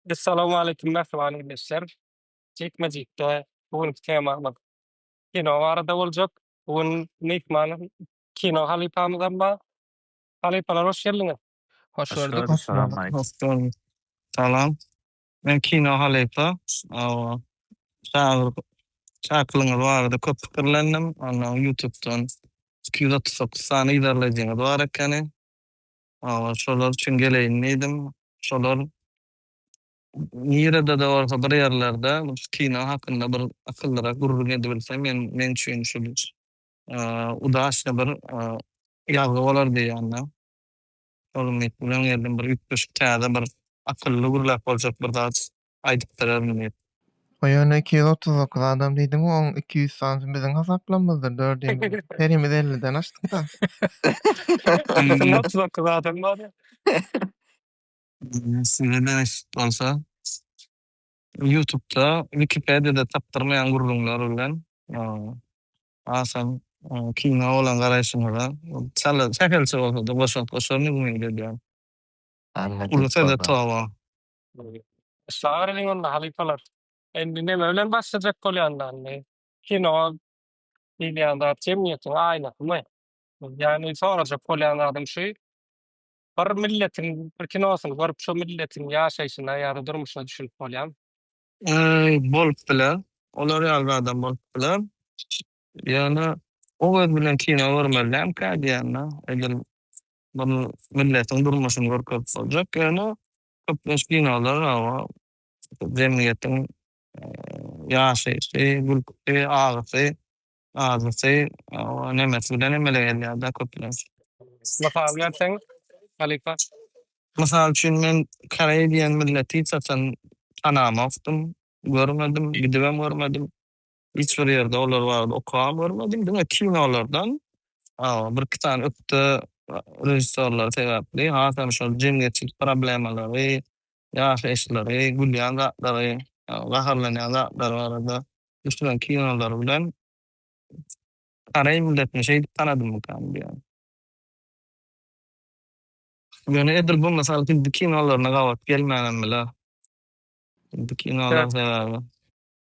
Essalamualeýkum mähriban ildeşler. Jikme-jikde bu günki temamyz kino barada boljak. Bu gün myhman kino halypamyzam bar. Halypalar hoş geldiňiz. Hoş gördük. Hoş gördük. Salam. Men kino halypa. Şagyr çakylygyňyz barada köp pikirlendim. Ondan ýutubdan iki ýüz otuz dokuz sany yzarlaýjyňyz bar ekeni. Awa, şolar üçin geleýin diýdim. Şolar nirede-de bolsa bir ýerlerde şu kino hakynda bir akyllyrak gürrüň edibilse, men meň üçin şul udaçny bir ýazgy bolar diýýän-de. Şol umyt bilen geldim. Bir üýtgeşik täze bir akylly gürläp boljak bir zat aýdyp duraryn diýip. Ho ýöne iki ýüz otuz dokuz adam diýdiň we oň iki ýüz sanysy biziň hasaplamymyzdyr dört ýüz herimiz elliden aşdykda. Biziň otuz dokuz adam bar. Size nesip bolsa ýutubda wikipediýada tapdyrmaýan gürrüňler bilen hasam kino bolan garaýşyňyza çala sähelçe bolsada goşant goşaryn umyt edýän. Uly söze toba. Başlaňlar iliň onda halypalar. Indi neme bilen başlajak bolýanlar indi? Kino diýilýän zat jemgyýetiň aýnasymy? Ýagny sorajak bolýan zadym şu, bir milletiň bir kinosyny görüp şo milletiň ýaşaýşyna ýa-da durmuşyna düşünip bolýamy? Äý, bolup biler. Olar ýaly zadam bolup biler. Ýöne o göz bilen kino görmeli dälmikä diýýän-de. Edil bir milletiň durmuşyny görkezip boljak. Ýöne Köp muşkinowlar hawa jemgyýetiň ýaşaýşy, gülküsi, agysy, azysy hawa nemesi bilen emele gelýärda köplenç. Mysal berseň halypa? Mysal üçin men koreý diýen milleti hiç haçan tanamokdym, görmedim, gidibem görmedim. Hiç bir ýerde olar barada okabam görmedim. Diňe kinolardan birki sany ökde režissýorlar sebäpli hasam şol jemgyýetçilik problemalary, ýaşaýyşlary, gülýän zatlary, gaharlanýan zatlary barada düşüren kinolary bilen koreý milletini şeýdip tanadymykan diýýän. Ýöne edil bu mysal hindi kinolaryna gabat gelmänem biler. Hindi kinolar sebäbi.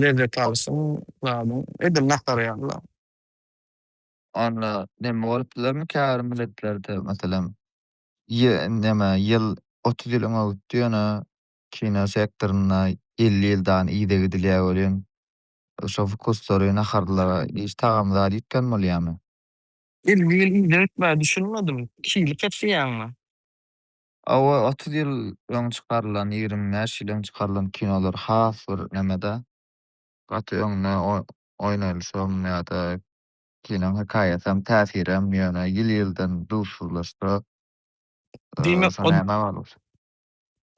Lezzet alsyn zadyň. Edil nahar ýaly-la. Onda näme bolupdylarmy käbir milletlerde, meselem, ýy näme ýyl otuz ýyl öňe gitdi, ýöne kino sektorynda elli ýyldan yza gidilýär welin, şo wkuslary, naharlara hiç tagamzady ýitgen bolýarmy? Elli ýyl yza gitmä düşünmedim. Iki ýyly kesýäňmi? Awa otuz ýyl öň çykarylan ýigrimi bäş ýyl öň çykarylan kinolar has bir nemeda gaty öňde oýnalşam ýada kinoň hekaýasam täsirem ýöne ýyl ýyldan duzsuzlaşsa Diýmek ol näme bolur.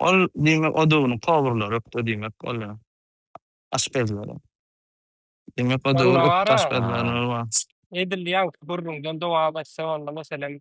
Ol diýmek odugyny powurlar ökde diýmek ol ýa aşpezler. Diýmek odugy ökde aşpezler. Edil ýaňky gürrüňden dowam etse boldy meselem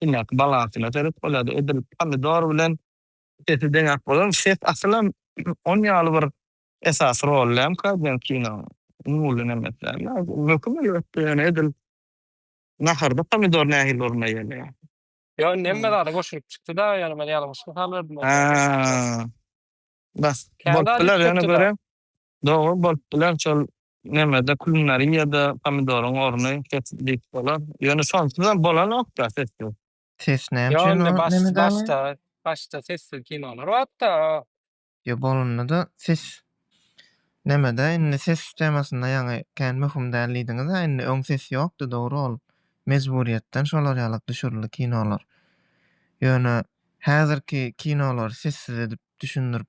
Inek balasyna sebep bolýardy. Edil pomidor bilen sesi deňäp bolarmy? Ses asylam on ýaly bir esasy rol lýamyka diýen kinoň? Umuly nemeslär. Möhüm elbetde, ýöne edil naharda pomidor nähili oruna eýeleýär? Ýok, indi hemme zada goşulyp çykdy-da, ýöne men ýalňyş mysal berdim. Hä. Bas, bolup biler, ýöne göreýin. Dogry bolup biler şol nemede kulinariýada pomidoryň orny ses diýip bolar. Ýöne şonsuzam bolanokda sessiz. Ses näme üçin o nemede galýar? Ýa onda başda başda sessiz kinolar batda. Ýa bolundada ses nemede indi ses temasynda ýaňy kän möhüm däl diýdiňizä indi öň ses ýokdy dogry ol mejburyýetden şolar ýalak düşürildi kinolar. Ýöne häzirki kinolary sessiz edip düşündirip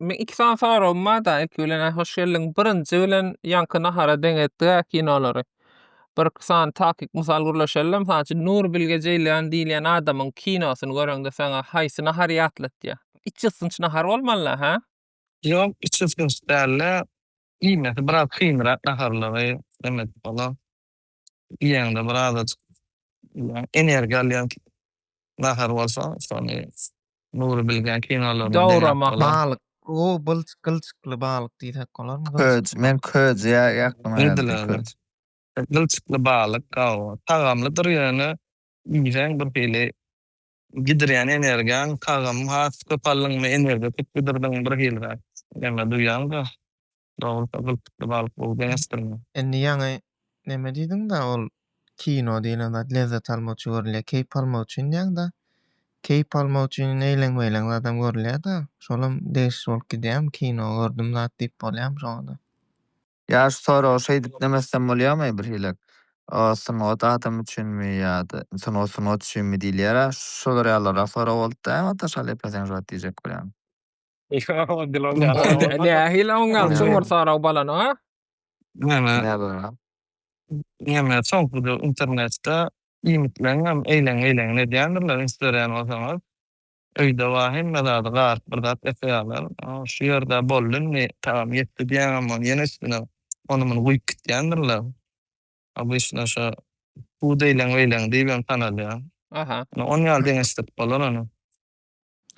Men iki sany soragym barda ilki bilen hoş geldiň birinji bilen ýaňky nahara deň etdiga kinolary bir iki sany takyk mysal gürleşelim mysal üçin nur bilge jeýlan diýilýän adamyň kinosyny göreňde saňa haýsy nahary ýatlatýar iç ýyssynç nahar bolmalyda hä. Ýok iç ýyssynç dälde iýmesi biraz kynrak naharlary demek olar. iýeňde bir azajyk energiýa alýan nahar bolsa şony Nury bilgen kinolaryny Dowramak balyk o bylç gylçykly balyk diýsek bolarmy? Köz men köz ýa ýaklyma ýazyp köz. Gylçykly balyk gawa tagamlydyr ýöne iýseň bir hili gidirýän energiýaň tagamy has köp aldyňmy energiýa köp gidirdiňmi bir hiliräk näme duýýaň-da. Dogrusa gylpykly balyk gowy bäsdirmi? Indi ýaňy neme diýdiňda ol kino diýlen zat lezzet almak üçin görülýär keýp almak üçin diýýäňda keýp almak üçin eýleň beýleň zadam görülýärda şolam degişli bolup gidýärmi kino gördüm zat diýip bolýarmy şoňada. Ýa şu soragy şeýdip demesem bolýarmy birhilek o sungat adam üçinmi ýa-da sungat sungat üçinmi diýilýär-ä şolar ýalyrak sorag bolupdy äwatta şalyýepe seň şu wagt diýjek bolýaň. Nähili oňňalçy Murtaraw balan, a? Näme? Näme, soňkuda internetde iýmitleňem eýleň-eýleňini edýändirler, üns berýän bolsaňyz. Öýde bar hemme zady, garyp bir zat ýasaýarlar. Şu ýerde boldy indi, tagam ýetdi diýýäňem ony ýene üstüne ony-muny guýup gitýändirler. Obýşna şo pud eýleň-beýleň diýibem tanalýar. Aha. Ony ýaly deňeşdirip bolar ony.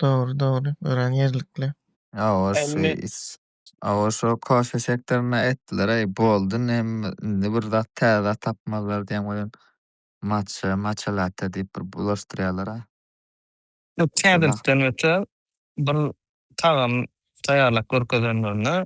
Dogry, dogry. Örän ýerlikli. Awa şu Emmi. is. Awa şu kofe sektorynda etdiler eý boldy nem indi bir zat täze zat tapmazlar diýen welin matcha, matcha latte diýip bir bulaşdyrýarlar a. Ýok Şonda. täzelikden öte bir tagam taýýarlap görkezenlerinde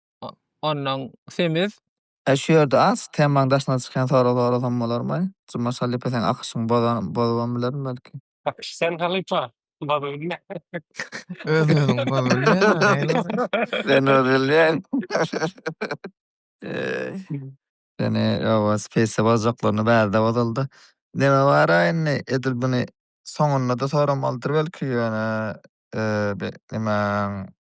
ondan semiz. Eý şu ýerde aç, temaň daşyna çykýan soraglary sorasam bolarmy? Jumaş halypa seň akyşyňy bozan bozubam bilerin belki. Akyş sen halypa bozup bilme. Öz özüňi bozup bilýäňmi haýyr sen? Sen öz bilýäň. Eý. Seni ýowuz pisse bozajaklaryna bärde bozuldy. Neme bara indi edil buny soňunda-da soramalydyr belki ýöne bir nemäň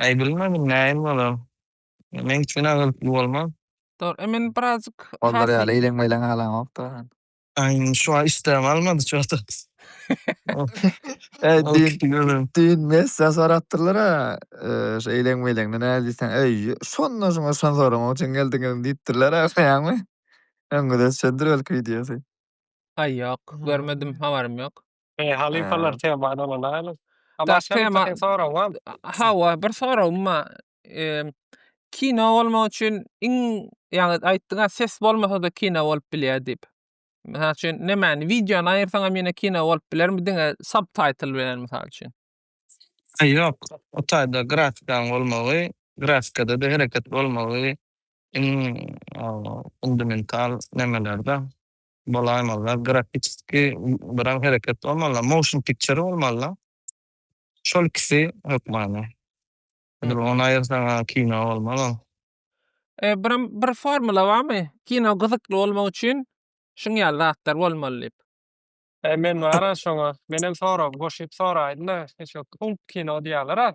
Aý bilmedim näin bolar. Meň üçin agyrtly bolmaz. Dogry e men birazjyk Onlar ýaly eýleň meýleň halaňok da. Aý şu aý işdäm almady çota. Äý düýn düýn messa sorapdyrlar a şu eýleň meýleňde näle diýseň äý şonda şuňa şon sorama üçin geldiňizmi diýipdirler a öňüňizde düşendir belki wideosy. Aý ýok görmedim habarym ýok. Eý, halypalar He. temany ulanaýlyň. A Da, başga tema- birtahyn sorag bar. A- Hawa, bir soragym bar. Eee, Kino bolmak üçin iň, ýaňy aýtdyň-a, ses bolmasa-da kino bolup bilýär diýip. Mysal üçin, nämäni, wideony aýyrsaň hem ýene kino bolup bilermi, diňe subtitle bilen, mysal üçin? Aý, ýok. O taýda grafikanyň bolmagy, grafikada-da hereket bolmagy iň, o, fundamental nemeler-de. bolaýmalylar, grafiski biraň hereket bolmalylar, motion picture bolmalylar. Şol ikisi hökmany. Edil ony aýyrsaň ha kino bolmaz ol. E, biram bir formula barmy? Kino gyzykly bolmak üçin şuň ýaly zatlar bolmaly diýip. E, men bara şoňa, menem soragy goşup soraýyn-da, şo kung kino diýýäler-ä.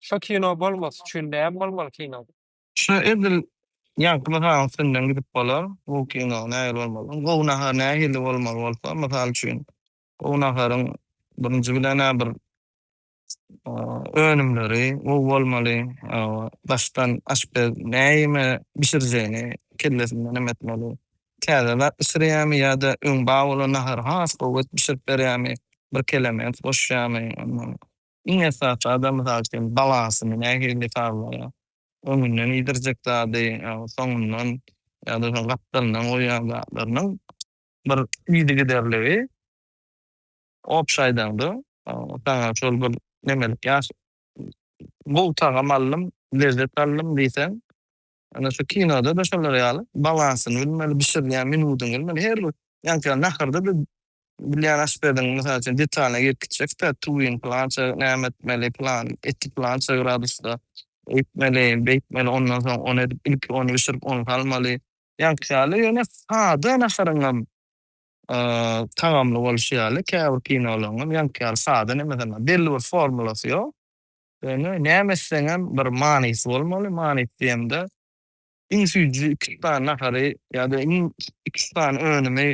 Şo kino bolmasy üçin näme bolmaly kino? Şu edil ýaňky mysalyň üstünden gidip bolar. Gowy kino nähili bolmaly? Iň gowy nahar nähili bolmaly bolsa, mysal üçin, gowy naharyň birinji bilen-ä bir önümleri gowy bolmaly. Daşdan aşpez näme bişirjegini kellesinden hem etmeli. Täze zat bişirýärmi ýa-da öň bar bolan nahary has gowy edip bişirip berýärmi, birkelemek goşýarmy, ondan Iň esasy adam mysal üçin balasyny nähili hasablaýar? Öňünden iýdirjek zady, soňundan ýa-da şol gapdalyndan goýýan zatlarynyň bir yzygiderligi obşy aýdaňda saňa şol bir nemelik gowy tagam aldym, lezzet aldym diýseň Ýöne şu kinoda-da şolar ýaly balansyny bilmeli, bişirilýän minudyny bilmeli. Her bir, ýa-da naharda biz bilýän aşpeziň, mysal üçin, detalyna girip gitjekdä, tuwuny pylança näme etmeli, pylan eti pylança gradusda öýtmeli, beýtmeli, ondan soň ony edip, ilki ony bişirip, ony salmaly. Ýaňky ýaly, ýöne sada naharyň hem tagamly bolşy ýaly, käbir kinolaryň hem ýaňky ýaly sada, nemeseň hem belli bir formulasy ýok. Ýöne näme etseňem bir manysy bolmaly, manysy diýemde iň süýji iki üç sany nahary ýa-da iň iki üç sany önümi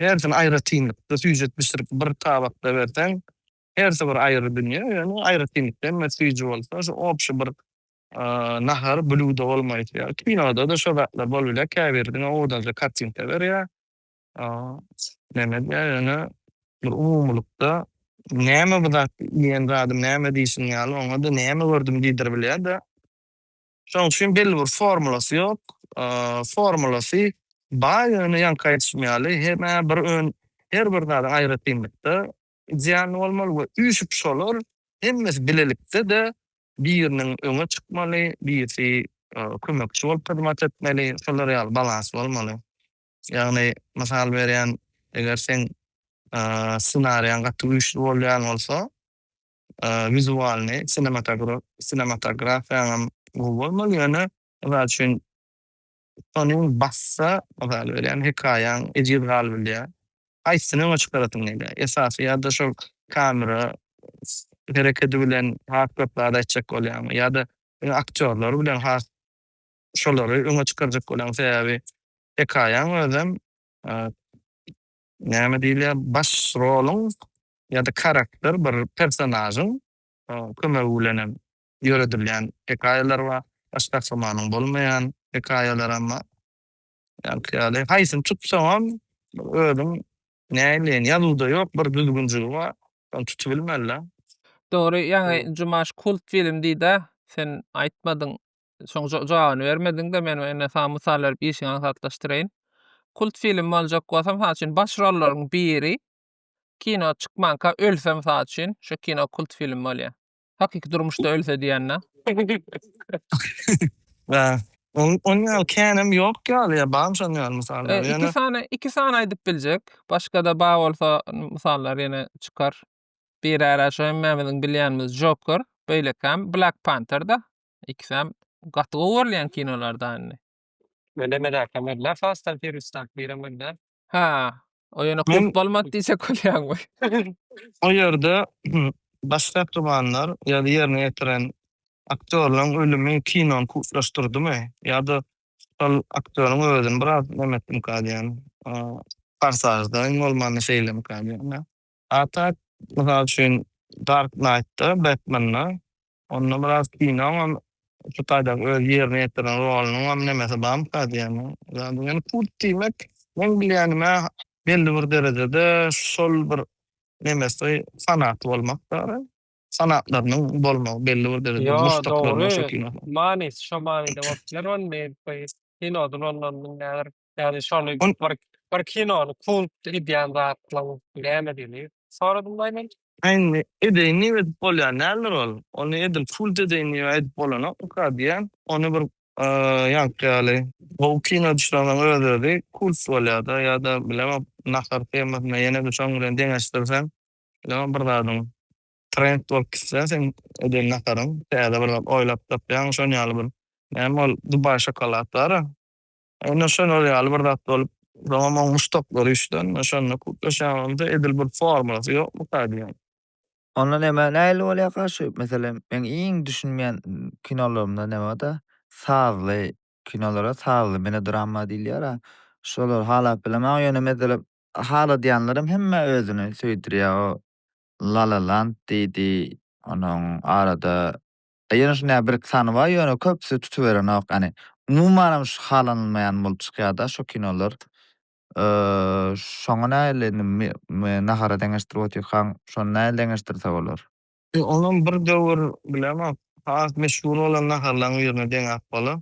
hersini aýratynlykda süýjüp bişirip bir tabakda berseň hersi bir aýry dünýe, ýöne aýratynlykda hemmesi süýji bolsa şu obşi bir nahar, blýudo bolmaýsa ýa kinoda-da şo zatlar bolup bilýär, käbiri diňe owadança kartinka berýär, Näme edýär ýöne bir umumylykda näme bu zat diýen zady näme diýşiň ýaly oňa-da näme gördüm diýdir bilýär-de. Şoň üçin belli bir formulasy ýok. Formulasy bar ýöne ýaňky aýdyşym ýaly hemä bir ön her bir zady aýratynlykda idealny bolmaly we üýşüp şolar hemmesi bilelikde-de biriniň öňe çykmaly, birisi kömekçi bolup hyzmat etmeli, şolar ýaly balans bolmaly. Ýagny mysal berýän eger seň ssenariýaň gaty güýçli bolýan bolsa wizualny sinematografiýaňam gowy bolmaly ýöne mysal üçin tonyň bassa mysal berýän hekaýaň ejiz galybilýär haýsyny öňe çykarasyň gelýär esasy ýada şol kamera herekedi bilen has köp zat aýtjak bolýaňmy ýada aktýorlar bilen has şolary öňe çykarjak bolan sebäbi hekaýaň özem näme diýilýär baş roluň ýa-da karakter bir personažyň kömegi bilenem ýöredilýän hekaýalar bar, baş gahrymanyň bolmaýan hekaýalaram bar. Ýaňky ýaly haýsyny tutsaňam bir özüň näleýin ýazuwda ýok bir düzgünjigi bar şony tutubilmeli. Dogry ýaňy Jumaş kult film diýdä sen aýtmadyň Şoň jawabyny bermediň-de, men indi saňa mysal berip işiňi aňsatlaşdyraýyn. Kult film boljak bolsa, mysal üçin, baş rollaryň biri kino çykmanka ölse, mysal üçin, şo kino kult film bolýar. Hakyky durmuşda ölse diýen-dä. Onuň ýaly känem ýok ýaly ýa barmy şonuň ýaly mysallar? Ýöne Iki sany, iki sany aýdyp biljek. Başga-da bar bolsa mysallar ýene çykar. Biri-ä şu hemmämiziň bilýänimiz Joker, beýlekäm Black Panther-da. ikisem gaty gowy görülýän kinolar da indi. Önem edäýsem bolýar Fast and Furious daky birem bolýar. Hä, o ýöne Men- kult bolmady diýjek bolýan we O ýerde baş gahrymanlar ýa-da ýerine ýetiren aktýorlaryň ölümi kinony kultlaşdyrdymy ýa-da şol aktýoryň özüni biraz näme etdimika diýýän, Forsažda iň bolmanda şeýlemika diýýän. Atak, mysal üçin, Dark Knight-da, Batman-da, onda biraz kinoňam şu taýdaky öz ýerine ýetiren rolunyňam nemesi barmyka diýýän. Ýöne kult diýmek, meň bilýänim-ä, belli bir derejede şol bir nemesi, fanaty bolmak däl-ä. Fanatlarynyň bolmagy, belli bir derejede Ýo, muşdaklarynyň dogry. şo kinosyň. Manysy şo manyda bolup biler ony, kinoda bolmamynyň nädip Ýagny şony Ol- bir bir kinony kult edýän zatlaň nämedigini soradym daýy men. Indi edeýin diýip edip bolýan däldir ol. Ony edil kult edeýin diýip aýdyp bolanokmyka diýýän. Ony bir ýaňky ýaly gowy kino düşüreňem öz-özi kult bolýar-da ýa-da bilemok nahar temasyna ýene-de şoň bilen deňeşdirseň bilemok bir zadyň trend bolup gitse seň eden naharyň täze bir zat oýlap tapýaň şoň ýaly bir näme ol dubaý şokolad bar-a. Onda şol ol ýaly bir zat bolup, soňam oň muşdaklary üçden şonda kutlaşýan bolsa, edil bir formulasy ýokmuka diýýän. Onda näme nähili bolýarka şu meselem meň iň düşünmeýän kinolarymda näme barda sazly kinolara sazly melodramma diýilýärä şolary halap bilemäň ýöne mezelem haladýanlarym hemme özüni söýdürýär o Lalaland diýdi onuň arada Ýöne şunda bir-iki sany bar, ýöne köpüsi tutuberenok. Ýani umumanam şu halanylmaýan bolup çykýar-da şu kinolar. Şoňa nähili indi nahara deňeşdirip otyrkaň, şony nähili deňeşdirse bolar? Onam bir döwür bilemok, has meşhur bolan naharlaryň birine deňäp bolar.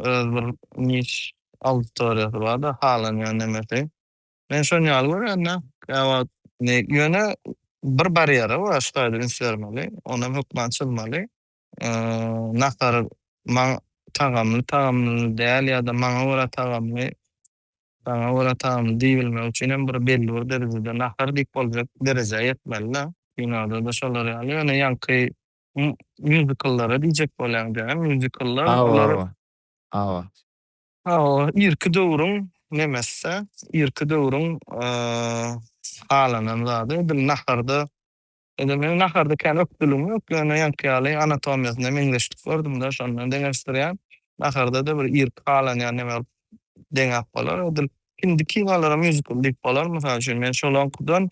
Öz bir niş auditoriýasy bar-da, halanýan nemesi. Men şon ýaly görýän-dä. Käwagt indi ýöne bir barýere başga taýda üns bermeli. Onam hökman çyzmaly. Nahar maňa tagamly, tagamly däl ýa-da maňa görä tagamly, saňa görä tagamly diýibilmegi üçin hem bir belli bir derejede nahar diýip boljak derejä ýetmeli-dä. Kinoda-da şolar ýaly. Ýöne ýaňky mýuzikllara diýjek bolýaň diýýän. Mýuzikllar olar. Hawa, hawa. Hawa, irki döwrüň nemesde, irki döwrüň halanan zady edil naharda, edil meň naharda kän ökdüligim ýok, ýöne ýaňky ýaly anatomiýasyna meňzeşlik gördüm-de, şondan deňeşdirýän. Naharda-da bir irki halanýan neme bolup deňäp bolar. Edil hindi kinolara mýuzikl diýip bolar. Mysal üçin, men şolaňkudan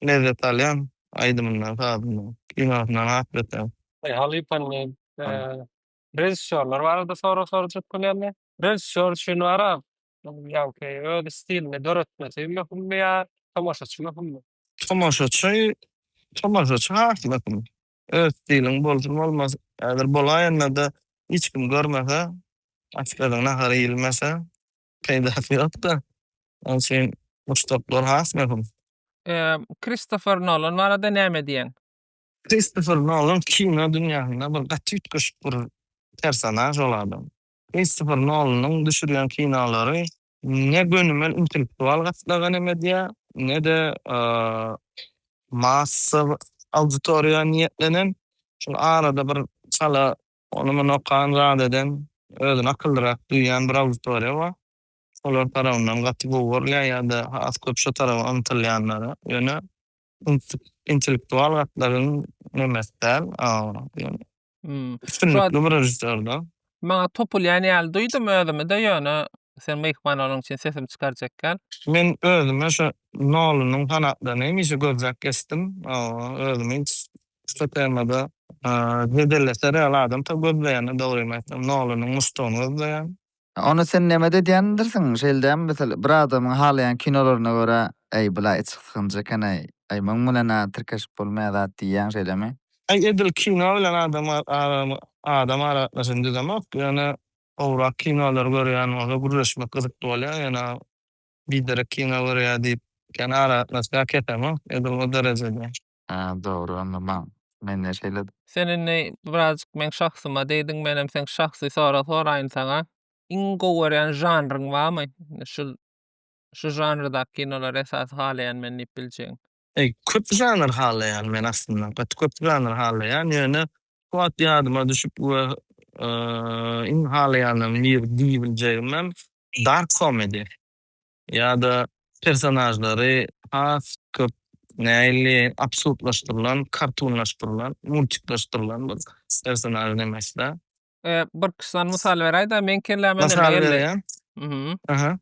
lezzet alýan, aýdymyndan, sazyndan, kinosyndan has beter. Halypany Režissýorlar barada sorag sorajak bolýarlar. Režissýor üçin wara, ýagny öz stilini döretmesi möhümmi ýa tomaşaçy möhümmi? Tomaşaçy, tomaşaçy has möhüm. Öz stiliň bolsun bolmasyn, häzir bolaýanda-da hiç kim görmese, aşpezin nahary iýilmese, peýdasy ýok-da. Onuň üçin muşdaklar has möhüm. Kristofer Nolan barada näme diýýäň? Kristofer Nolan kino dünýäsinde bir gaty üýtgeşik bir personaž ol adam. Kristofer Nolanyň düşürýän kinolary ne gönümel intellektual gatlagan hem edýär, ne-de massa auditoriýa niýetlenen. Şol arada bir çala ony-muny okan, zat eden, özüni akyllyrak duýýan bir auditoriýa bar. Şolar tarapyndan gaty gowy görülýär ýa-da has köp şo tarapa ymtylýanlara. Ýöne Intellektual gatlagyň nemes däl, ýöne üstünlikli bir režissýorda. Maňa topulýan ýaly duýdum özümi-de, ýöne sen myhman bolanyň üçin sesimi çykarjakgel. Men özüme şu Nolanyň fanatlaryny hemişe gözläp geçdim. Özümi hiç şu temada jedeleşer ýaly adam tä gözleýän-de dogrymy aýtsam. Nolanyň muşdagyny gözleýän. Ony sen näme-de edýändirsiň, şeýle dälmi? Meselem, bir adamyň halaýan kinolaryna görä, Äý, bula içi sykynjy eken-aý, äý, muň bilen-ä tirkeşip bolmaýar zat diýýäň, şeýlemi? Äý, edil kino bilen adam adam aragatnaşygyny düzemok, ýöne gowrak kinolary görýän bolsa, gürleşmek gyzykly bolýar, ýöne biderek kino görýär diýip, kän aragatnaşýar kesemok, edil o derejede. Hä dogry onda maň. Mende şeýle. Sen indi birazjyk meň şahsyma degdiň menem seň şahsy sorag soraýyn saňa. Iň gowy görýän žanryň barmy? Şul şu žanrdaky kinolary esasy halaýan men diýip biljegiň. Eý köp žanr halaýan men aslynda gaty köp žanr halaýan ýöne şu wagt ýadyma düşüp we iň halaýanlarym biri diýibiljegimem dark komedi. ýa-da personažlary has köp nähili absurdlaşdyrylan, kartunlaşdyrylan, multiklaşdyrylan bir personaž demekdä. Bir kyssan mysal beräýdä, meň kelläme näme geldi? Mysal beräýen. Aha.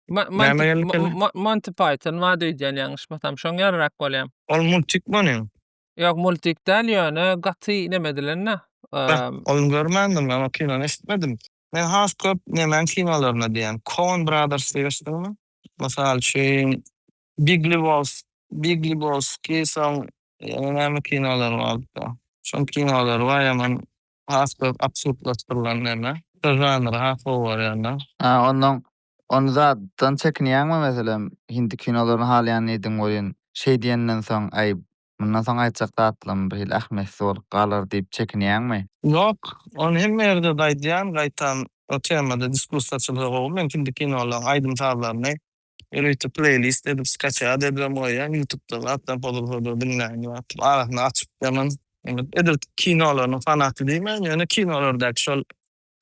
Näme geldi kelläňe? Monty Python bady öýdýän ýalňyşmasam, şoň ýaryrak bolýa. Ol multik bolýa. Ýok, multik däl, ýöne gaty nemedilen-dä. Ol görmändim, ol kinony eşitmedim. Men has köp nemäň kinolaryna diýýän, Coen Brothers diýibesdiňmi? Mysal üçin, Big Lebowski, Big Lebowski, soň ýene näme kinolar bardyka? Şoň kinolary bar ýaman has köp absurdlaşdyrylan neme. Şo žanry has gowy görýänler. Hä, onnoň ony zatdan çekinýäňmi, meselem, hindi kinolaryny halaýan ediň welin, şeý diýenden soň, äý, Mundan soň aýtjak zatlarym birhili ähmiýetsiz bolup galar diýip çekinýäňmi? Ýok, ony hemme ýerde-de aýdýan, gaýtam o temada diskussiýa açylsa gowy. Men hindi kinolaryň aýdym-sazlaryny ýörite pleýlist edip skaçýat edibem goýýan, ýutubda bar, atdan pozulsa-da diňläýin diýip atyp, arasyna açyp ýaman. Edil kinolarynyň fanaty diýmän, ýöne kinolardäki şol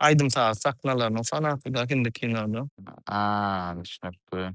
aýdym-saz sahnalarynyň fanaty-da hindi kinoda. A, düşnükli.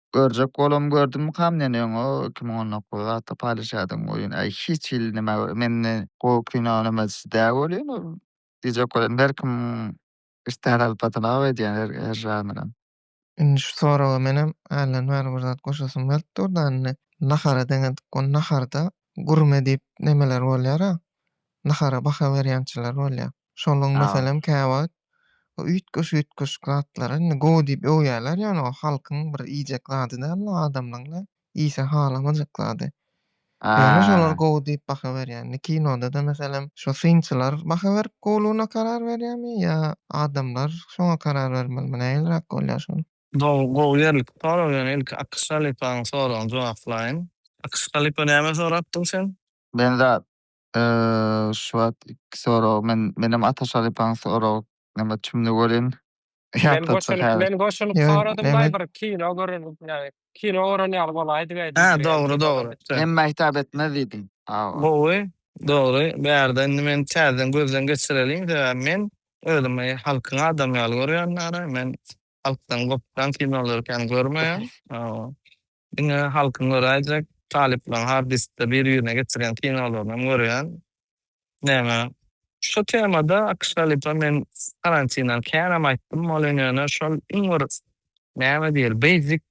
Görjek bolam gördümikam men öň o iki müň on dokuz zatda paýlaşýardyň oýun aý hiç hili neme mende gowy kino neme sizde welin ol diýjek bolan her kim istän alyp batanag edýän her her žanram. Indi şu soraga menem hälden bäri bir zat goşasym gelip durda indi nahara deňedik ol naharda gurme diýip nemeler bolýara nahara baha berýänçiler bolýa Şonuň meselem käwagt üýtgeşik-üýtgeşik zatlary indi gowy diýip öwýärler ýöne o halkyň bir iýjek zady däl-de adamlaryň-da iýse halamajak zady. Ýöne şolar gowy diýip baha berýär. Indi kinoda-da meselem şo synçylar baha berip gowlugyna karar berýärmi ýa adamlar şoňa karar bermelimi nähiliräk bolýar şol? Dogry gowy ýerlikli sorag ýöne ilki Akyş halypanyň soragyny jogaplaýyn. Akyş halypa näme sorapdyň sen? Benzat Şu wagt iki sorag men menem Ataş halypaň sorag name tümüni görýän. Men goşulyp men goşulyp soradym daýy bir kino gören ýaly kino gören ýaly bolaýdyk aýdym. Hä dogry dogry. Hemme hitap etmez diýdim. Gowy dogry bärde indi men täzeden gözden geçireliň sebäbi men özümi halkyň adamy ýaly görýän ara men Halkdan gopýan kinolary kän görmeýän. Diňe halkyň göräýjek, talyplaň har diskde bir-birine geçirýän kinolaryny görýän. Näme? Şu temada Akşalipa men karantindan känam aýtdym welin ýöne şol iň bir näme diýeli basic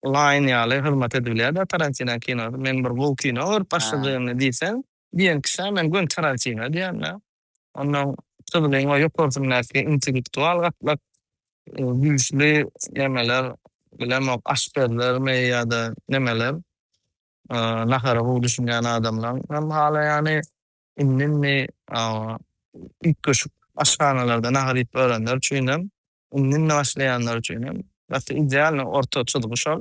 line ýaly hyzmat edibilýär da Tarantinan kinosy. Men bir gowy kino görüp başladygymda diýseň, diýen kişä men göni Tarantino diýýän-de. Ondan çyzgyň we ýokarsyndaky intellektual gatlak güýçli nemeler, bilemok, aşpezlermi ýa-da nemeler, nahara gowy düşünýän adamlaň hem halaýany, indi-indi üýtgeşik aşhanalarda nahar iýip örenler üçinem, indi-indi başlaýanlar üçinem gaty idealnyý orta çyzgy şol.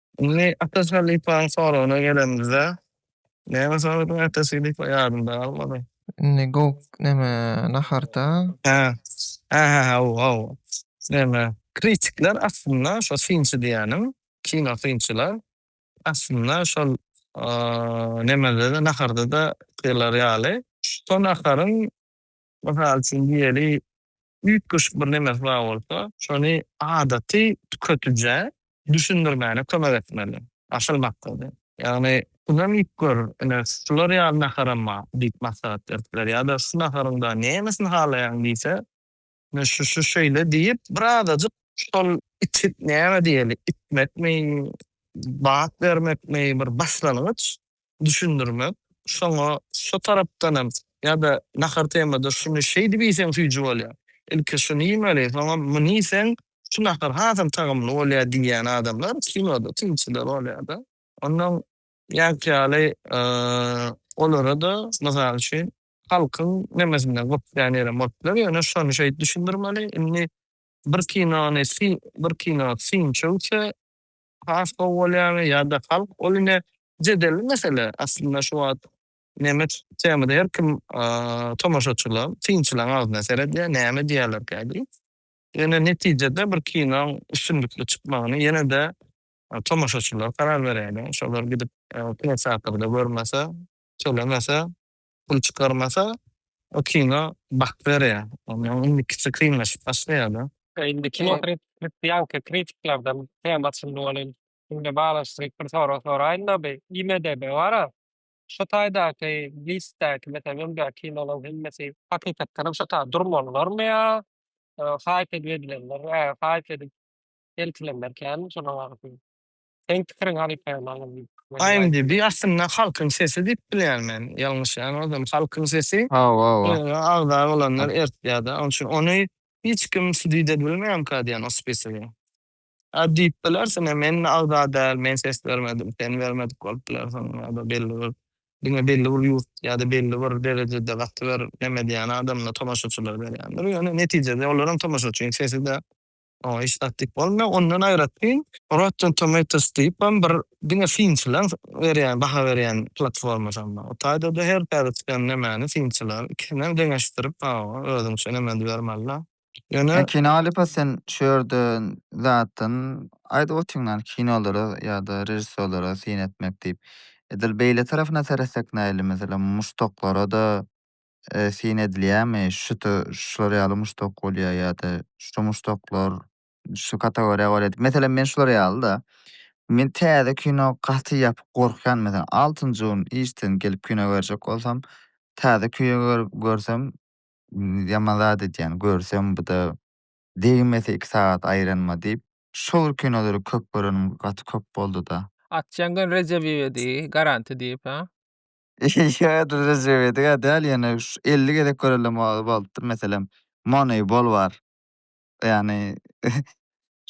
Indi Ataş halypaň soragyna gelemizde, näme soradyň Ataş halypa ýadymda galmady. Indi gowk neme naharda. Hä. Hä-hä haw haw. Neme kritikler aslynda şo synçy diýýänim, kino synçylar aslynda şol nemede-de naharda-da aýtýarlary ýaly, şo naharyň Mysal üçin diýeli, üýtgeşik bir nemesi bar bolsa, şony adaty tüketicä düşündirmäne kömek etmeli. Asyl maksady. Ýagny, şunam iýip gör, ine, şular ýaly naharam bar diýip maslahat berip biler. Ýa-da şu naharyň dagy nämesini halaýaň diýse, ine, şu-şu şeýle diýip, birazajyk şol içip näme diýeli, içmekmi, bat bermekmi, bir başlangyç düşündirme şoňa şo tarapdan hem ýa-da nahar temada şuny şeýdip iýseň süýji bolýar, ilki şuny iýmeli soňam muny iýseň şu nahar hasam tagamly bolýar diýýän adamlar kinoda synçylar bolýar-da. Ondan ýaňky ýaly olara-da mysal üçin halkyň nemesinden gypjan ýerem bolup biler ýöne şony şeýdip düşündirmeli indi bir kinony bir kino synçy öwse has gowy bolýarmy ýa-da halk, ol ine jedelli mesele. Aslynda şu wagt nemes temada her kim tomaşaçylar, synçylaryň agzyna seredýär, näme diýerlerkä diýip. Ýöne netijede bir kinoň üstünlikli çykmagyny ýene-de tomaşaçylar karar berýärler. Şolar gidip kinoteatrda görmese, tölemese, pul çykarmasa o kino bak berýär. Onda indikisi kynlaşyp başlaýar-da. Indi kino ýaňky kritiklerden tema açyldy welin, şunuň bilen baglanyşdyryp bir sorag soraýyn-da, bu IMDB bar-a, şu taýdaky listdäki, meselem, öňdäki kinolaryň hemmesi hakykatdan hem şo taýda durmalylarmy ýa haýp edip edilenler, haýp edip eltilenlerkämi şolar barada? Seň pikiriň halypa malum. IMDb aslynda halkyň sesi diýip bilýän men. Ýalňyşýan bolsam halkyň sesi. Hawa hawa. Oňa agza bolanlar ertýärda. Oň üçin ony hiç kim sudit edbilmeýärmka diýen o spisigi. A diýip bilersiň hem men agza däl, men ses bermedim, sen bermedik bolup bilersiň ýa-da belli bir diňe belli bir ýurt ýa-da belli bir derejede gaty bir neme diýýän adamlar tomaşaçylar berýändir. Ýöne netijede olar hem tomaşaçyň sesi-de. Oňa hiç zat diýip bolmaýar. Ondan aýratyn Rotten Tomatoes diýip hem bir diňe synçylaryň berýän, baha berýän platformasy hem bar. O taýda-da her täze çykan nemäni synçylar ikisini hem deňeşdirip, hawa, özüňçe neme edip bermeli-de. Ýöne. Kino alyp-a sen şu ýerde zatdan aýdyp otyňdan kinolara ýa-da režissýorlara syn etmek diýip. Edil beýle tarapyna seretsek nähili? Meselem, muşdaklara-da eee, syn edilýärmi, şuta şular ýaly muşdak bolýar ýa-da şu muşdaklar şu kategoriýa gol edip, meselem, men şular ýaly-da, men täze kino gaty ýapyk gorkýan, meselem, altynjy gün işden gelip kino görjek bolsam, täze kino görüp görsem, ýaman zat edýän, görsem bu-da degmese iki sagat aýranyma diýip, şol kinolary köp görenim gaty köp boldy-da. Atjaň gün Rejebiewe diý, garanti diýip, a? Ýa-da Rejep Edigä däl, ýöne şu elli gezek görelem o bolupdyr. Meselem, Moneybol bar. Ýagny,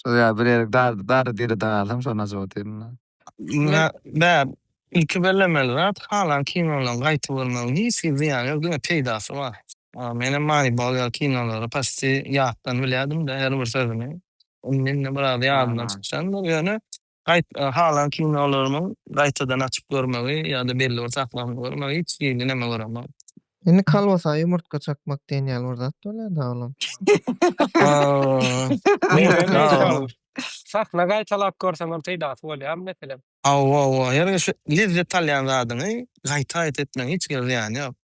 şol ýaly bir ýerik dar, dary-diri dagalsam, şony ajap otyryn-da. Ýa, bäh, ilki bellemeli zat, halan kino bilen gaýty görmegiň hiç hili zyýany ýok, diňe peýdasy bar. Menem Moneybol ýaly kinolary paçti ýatdan bilýärdim-de, her bir sözüni. Indi-indi biraz ýadymdan çykýandyr, ýöne Gaýt, halan kinolarymyň gaýtadan açyp görmegi ýa-da belli bir saklawyny görmegi hiç hili neme göremok. Indi kolbasa ýumurtga çakmak diýen ýaly bir zat bolýa-da olam. Sahna gaýtalap görsem hem peýdasy bolýarmy meselem? Hawa, hawa. Her gezşi lezzet alýan zadyňy gaýta-gaýta etmegiň hiç gezek zyýany ýok.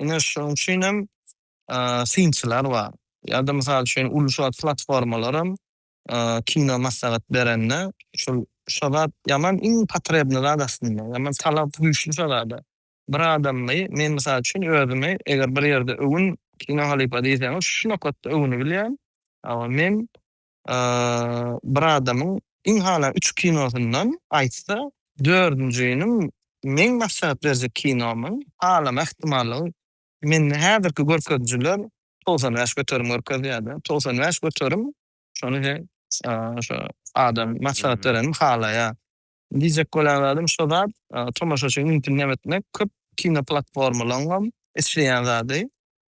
Ine, şonuň üçin hem synçylar bar. Ýa-da, mysal üçin, uly-şuly platformalaram kino maslahat berende, şol şo zat ýaman iň potrebnyý zat aslynda. Ýaman talap güýçli şo zada. Bir adamy, men mysal üçin özümi eger bir ýerde öwün, kino halypa diýseňiz, şu nokatda öwüni bilýän. Hawa, men bir adamyň iň hala üç kinosyndan aýtsa, dördünjiniň meň maslahat berjek kinomyň halama ähtimallygy mende häzirki görkezijiler togsan bäş göterim görkezýär-de. Togsan bäş göterim şony he şo adam maslahat berenim halaýar. Diýjek bolýan zadym şo zat, tomaşaçyny mümkin näme etmek köp kinoplatformalaryňam isleýän zady.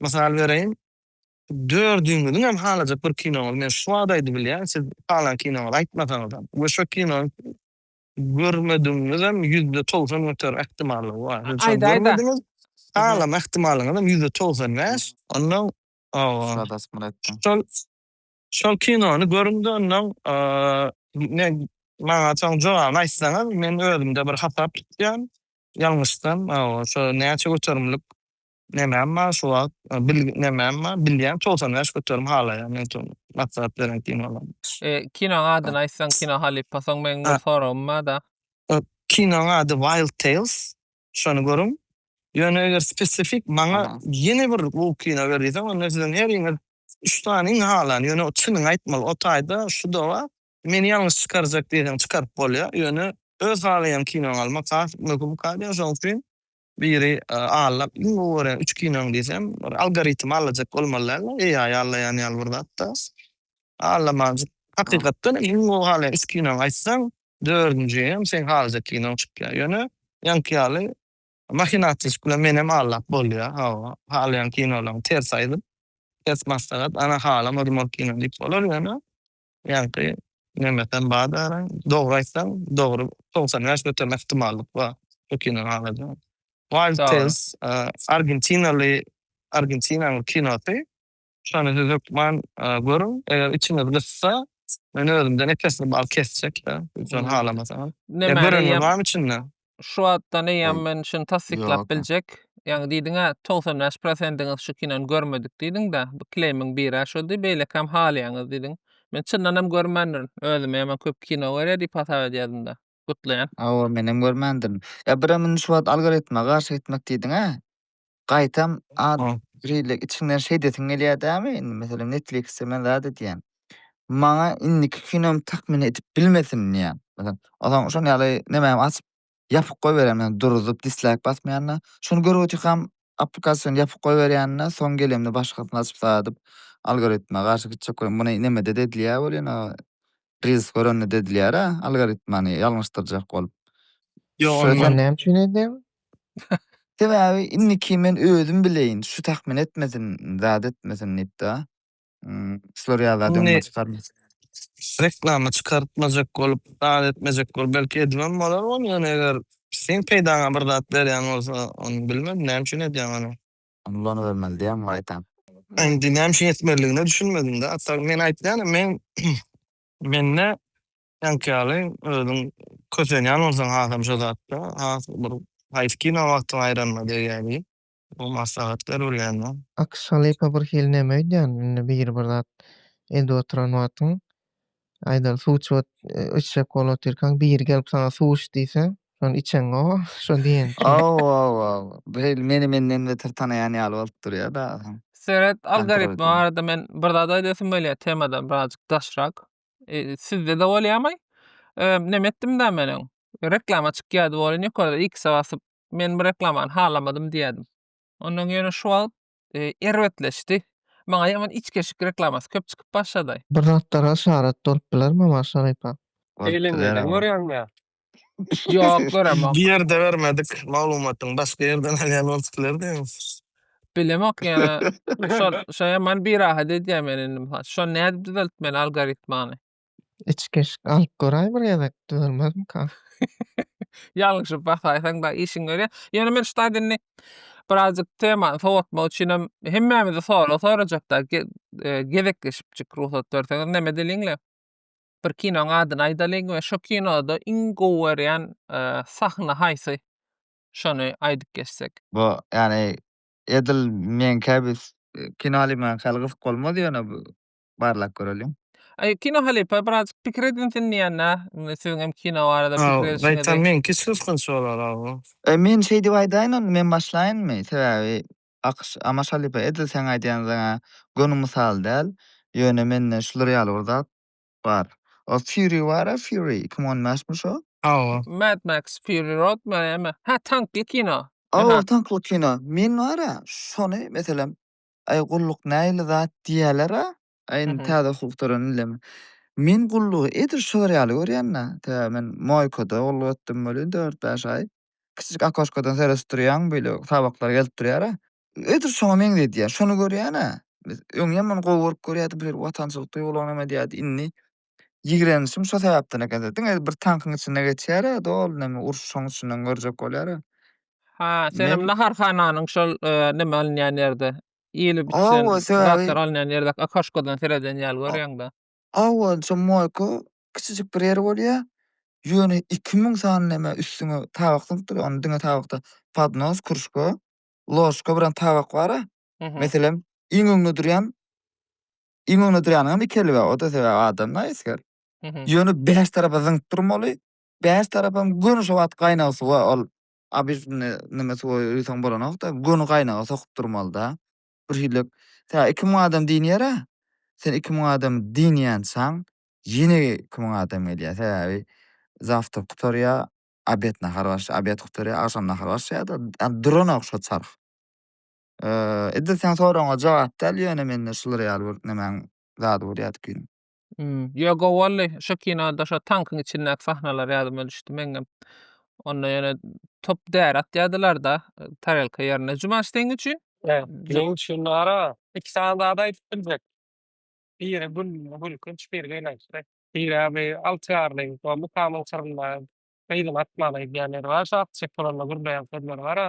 Mysal bereýin, dördüňiziň hem halajak bir kinoňyz, men şu wagt aýdyp bilýän, siz halan kinoňyzy aýtmasaňyzam we şo kinony görmedigiňizem ýüzde togsan göterim ähtimallygy bar. Siz şony görmediňiz, halama ähtimallyňyzam ýüzde togsan bäş. Onnoň şol şol kinony görüň-de, onnoň men maňa soň jogabyny aýtsaňyz, men özümde bir hasap tutýan, ýalňyşsam, hawa, şo näçe göterimlik Nämem bar şu wagt? Bil nämem bar? Bilýän togsan bäş göterim halaýan men şol maslahat beren kinolarym. E, kinoň adyny aýtsaň kino halypa soň meň bir soragym bada. E, kinoň ady Wild Tales. Şony görüň. Ýöne eger spesifik maňa ýene bir bu kino ber diýseň onda siziň heriňiz üç sany iň halan. Ýöne çynyňy aýtmaly o taýda şu da bar. Meni ýalňyş çykarjak diýseň çykaryp bolýar. Ýöne öz halaýan kinoňy almak has möhüm kalýar. Şoň üçin Biri Alla iň gowy görýän üç kinoň diýsem, bir algoritm allajak bolmaly dälmi? AI allaýan ýaly bir zatda. Allamanjyk hakykatdan hem iň gowy halaýan üç kinoňy aýtsaň, dördünji hem seň halajak kinoň çykýar. Ýöne ýaňky ýaly mahinasiýaşyk bilen menem allap bolýar. Hawa, halaýan kinolaryňy ters aýdyp, ters maslahat, ana halamadym ol kino diýip bolar. Ýöne Ýaňky Memetem bar däl-ä. Dogry aýtsaň, dogry togsan bäş göterme ähtimallyk bar bu kino alada. Wild Tales argentinaly argentinaly kinosy. Şony siz hökman görüň. Eger içiňiz gyssa, men özümden epesini bal kesjek-de, ýöne halamasaňyz. Görenler barmy içinde? şu atdan eýýäm men şuny tassyklap Ýok. biljek. Ýaňy diýdiň-ä, 95 prosendiňiz şu kinony görmedik diýdiň-dä. Bu kleýmiň biri-ä şoldy, beýlekäm halaýaňyz diýdiň. Men çyndan hem görmändirin. Özüme ýaman köp kino görýär diýip hasap edýärdim-de. Gutlaýan. Hawa, menem görmändirin. Ýa birem indi şu wagt algoritme garşy gitmek diýdiň-ä? Gaýtam ad Aa. rille içiňden şeý edesiň gelýär dämi indi meselem netfliksde men zat edýän. Maňa indiki kinom takmyn edip bilmesin diýýän. Meselem ozan şon ýaly nemämi açyp ýapyk goýberýän men duruzyp dislaýk basmaýanda şony görüp otyrkam aplikasiýony ýapyk goýberýände soň gelemde başgasyny açyp zat edip algoritme garşy gitjek bolan muny nemede-de edilýär welin a Reels görende dedilýär-ä, algoritmany ýalňyşdyrjak bolup. Ýok, Şöý Men näme üçin edýän? Sebäbi indiki men özüm bileýin, şu tahmin etmesin, zat etmesin diýip-de. Ým, şular ýa-da Indi- dynma çykarmaz. Reklama çykartmajak bolup, zat etmejek bolup, belki edibem bolar ony, ýöne eger seň peýdaňa bir zat berýän bolsa, ony bilmedim, näme üçin edýäň ony? Ony ulanybermeli diýýäň gaýtam. Indi näme üçin etmelidigine düşünmedim-de. Atar men aýtýanam men mende seňki ýaly özüň kösenýän bolsaň hasam şo zatda has bir haýsy kino wagtyň aýranyna degýädi. Bu maslahat ber bilýänine. Akshalypa birhili neme öýdýän indi biri bir zat edip oturan wagtyň Aýdar, suw içip içjek bolup otyrkaň, biri gelip saňa suw iç diýse, şony içeňow, şo diýen. Hawa-hawa, beýle meni menden beter tanaýan ýaly bolup durýar dagy. Seret, algoritmi barada men bir zat aýdasyym gelýär, temadan birazjyk daşrak. Sizde-de bolýarmy? Näme etdim-dä men öň? Reklama çykýardy welin ýokarda X-e basyp, men bu reklamany halamadym diýerdim. Ondan ýöne şu wagt erbetleşdi. Maňa ýaman içgeşik reklamasy köp çykyp başlady. Bir zatlar haşarat bolup bilermi Omar Şarypa? Eýlengenden görýäňmi? Ýok göremok. Bir ýerde bermedik maglumatyň başga ýerden alýan bolup bilerdiňiz. Bilemok ýöne şo şo ýaman birahat edýär meni indi mysal şony nädip düzeltmeli algoritmany. Içgeşik alyp göräý bir gezek, düzelmezmika? Ýalňyşyp basaýsaň-da işiň görýä. Ýöne men şu taýdan indi birazjyk temany sowatmak üçinem hemmämize sorag sorajak da, ge- e, gezekleşipjik rugsat berseňiz. Näme edeliň-le? Bir kinoň adyny aýdalyň we şo kinoda iň gowy görýän e, sahna haýsy? Şony aýdyp geçsek. Bu, ýagny, edil meňkä biz e, kino alymanka, ýaly gyzyk bolmaz ýöne bu barlap göreliň. Aý kino halypa birazjyk pikir edinsin diýýänä siziň hem kino barada pikir edişiňizi. Gaýtam meňki suskunç bolar aw. Men şeýdip aýdaýyn onda men başlaýynmy sebäbi Akyş Amaş halypa edil seň aýdýan zaňa göni mysal däl ýöne mende şular ýaly bir zat bar o Fury bara Fury iki müň on bäşmi şo? Hawa. Mad Max Fury Road me eme hä tankly kino. Hawa tankly kino men bara şony meselem Aý gulluk nähili zat diýýäler-a. Aý indi täze hukuk tören indem. Men gullugy edil şu bir ýaly görýän-dä. Tä men moýkada gulluk etdim welin dört-bäş aý. Kiçijik okoşkadan seredip durýaň beýle tabaklar gelip durýar-a. Edil şoňa meňzedýär. Şony görýän-ä. Biz öňem muny gowy görüp görýärdik, bu ýer watançylyk duýgularyny hem edýärdi. Indi Ýigrenişim şo sebäpden eken-de. Diňe bir tankyň içinde geçýär-ä, doly näme uruş şoň içinden görjek bolýar-a. Ha, senem naharhananyň şol näme alynýan ýerde, iýilip içilen zatlar alynýan ýerdäki okoşkodan sereden ýaly görýäň-de. Hawa, şo moýka kiçijik bir ýeri bolýar. Ýöne iki müň sany näme üstüňe tabak zyňyp dur. Onda diňe tabakda podnos, kruşka, ložka bilen tabak bar-a. Meselem, iň öňde durýan Iň öňde durýanyňam iki eli bar, o-da sebäbi adam da esger. Ýöne bäş tarapa zyňyp durmaly. Bäş tarapam göni şo wagt gaýnag suwa ol obýektini neme suwa uýsaň bolanok-da, göni gaýnaga sokup durmaly-da. Bir hili tä iki müň adam diňýär-ä. Sen iki müň adam diňýänçaň ýene iki müň adam gelýär. Sebäbi zawtrk gutarýar, obed nahar başlaýar, obed gutarýar, agşam nahar başlaýar-da. Ýa duranok şo çarh. Edil seň soragyňa jogap däl, ýöne mende şular ýaly bir nemäň zady bor ýadyp girdim. Hmm. Ýo gowy boldy. Şo kinoda şo tankyň içindäki sahnalar ýadyma düşdi meňňem. Onda ýöne top däri atýardylarda tarelka ýerine. Jumaş seň üçin? Meň üçin ara iki sany zat aýdyp biljek. Biri gül, gülkünç, biri gynançly. Sebäbi altyarly we mukamyň syrynda gyzyň atmaly diýen ýeri bar. Şo atjak bolanda gürleýän sözleri bar-a.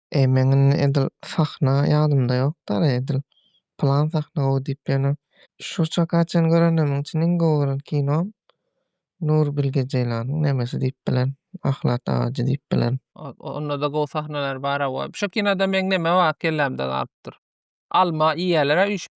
Eý meň indi edil sahna ýadymda ýok dary edil plan sahna gowy diýip ýöne şu çaka çen görenimiň içinde iň gowy gören kinom Nurbilge Jeýlanyň nemesi diýip bilen Ahlat agajy diýip bilen. Ondada gowy sahnalar bar hawa. Şu kinoda meň neme bar kellämde galypdyr. Alma iýýäler-ä üýşüp.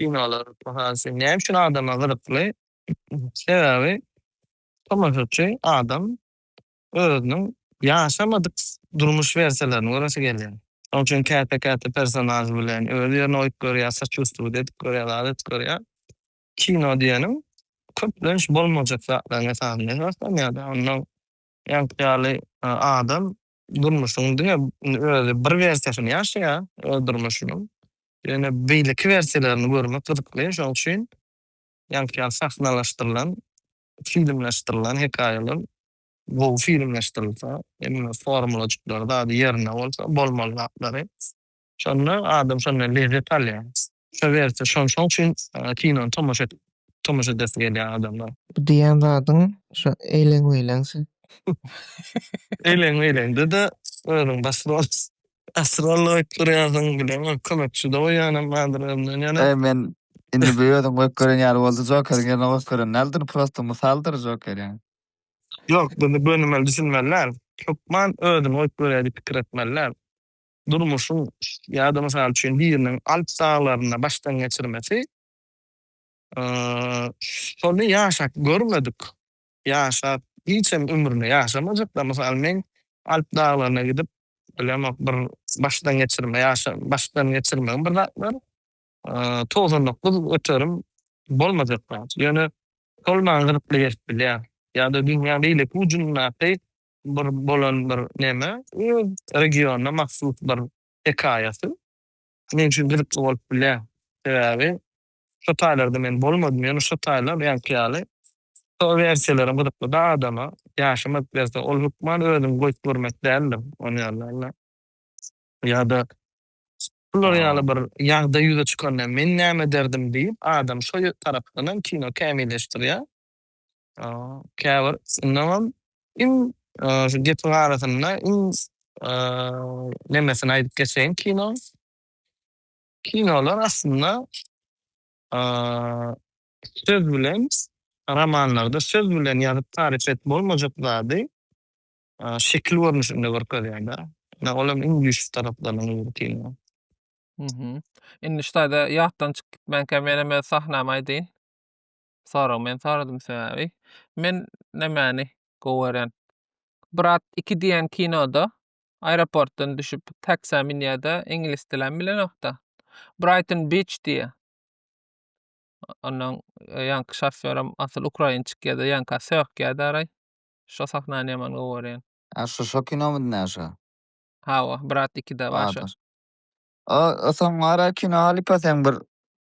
Kinolar, mysal üçin, näme üçin adama gyzykly? Sebäbi tomaşaçy adam özüniň ýaşamadyk durmuş wersiýalaryny göresi gelýär. Şonuň üçin käte-käte personaž bilen öz ýerine goýup görýär, soçustiwit edip görýär, zat edip görýär. Kino diýeniň köplenç bolmajak zatlaryň esasynda esaslanýar-da. Onnoň ýaňky ýaly adam Durmuşyň diňe özi bir wersiýasyny ýaşaýar öz durmuşynyň. Ýöne beýleki wersiýalaryny görmek gyzykly. Şonuň üçin ýaňky sahnalaşdyrylan, filmleşdirilen hekaýalar gowy filmleşdirilse, hemme formulajyklar zady ýerinde bolsa, bolmaly zatlary. Şonda adam şondan lezzet alýar. Şo wersi şon şoň üçin kinony tomaşa et tomaşa edesi gelýär adamlar. Bu diýýän zadyň şo eýleň meýleň söz. Eýleň meýleňde-de özüň baş rol. Baş rol goýup durýarsyň bilemok kömekçi-de goýýanam bardyr özümden ýene. Eý men indi bu özüň goýup gören ýaly boldy Jokeriň ýerine goýup gören däldir prosta mysaldyr Joker ýaňy. Ýok bunda gönümel düşünmeliler. Hökman özüni goýup görýär diýip pikir etmeliler. durmuşyň ýa-da, mysal üçin, biriniň Alp daglarynda başdan geçirmesi, şony ýaşap görmedik, ýaşap hiç hem ömründe ýaşamajak-da. Mysal, men Alp daglaryna gidip, bilemok, bir başdan geçirme ýaşa, başdan geçirmegim bir zatlar, togsan dokuz öterim bolmajak zat. Ýöne şol maňa gyzykly gelip bilýär. Ýa-da dünýäň beýleki ujundaky bir bolan bir neme öz regionyna mahsus bir hekaýasy men üçin gyzykly bolup bilýär. Sebäbi şo taýlarda men bolmadym ýöne şo taýlar ýaňky ýaly şo wersiýalaram gyzyklyda adama ýaşamak berse ol hökman özüňi goýup görmek däldir on ýerlerde ýada şular ýaly bir ýagdaý ýüze çykanda men näme ederdim diýip adam şo tarapdanam kino kämilleşdirýär. käbir şundanam iň şu gepiň arasynda iň nemesini aýdyp geçeýin kino. Kinolar aslynda söz bilen romanlarda söz bilen ýazyp tarif et bolmajak zady şekil görnüşinde görkezýär-de. Ýa ol hem iň güýçli taraplarynyň biri kino. Indi ştaýda ýatdan çykyp gitmänkä men hem öz sahnamy aýdyň. Sorag men soradym sebäbi men nämäni gowy görýän. Brat iki diýen kinoda aeroportdan düşüp taksä münýärde iňlis dilem bilenokda. Brighton Beach diýýä. Ondan ýaňky şofýoram asyl ukrainçik ýa-da ýanka sökýärdi araý. Şo sahnany ýaman gowy görýän. A şu şo kinomydy näşe? Hawa, Brat ikide bar şo. Bardyr. A soň ara kino alyp a seň bir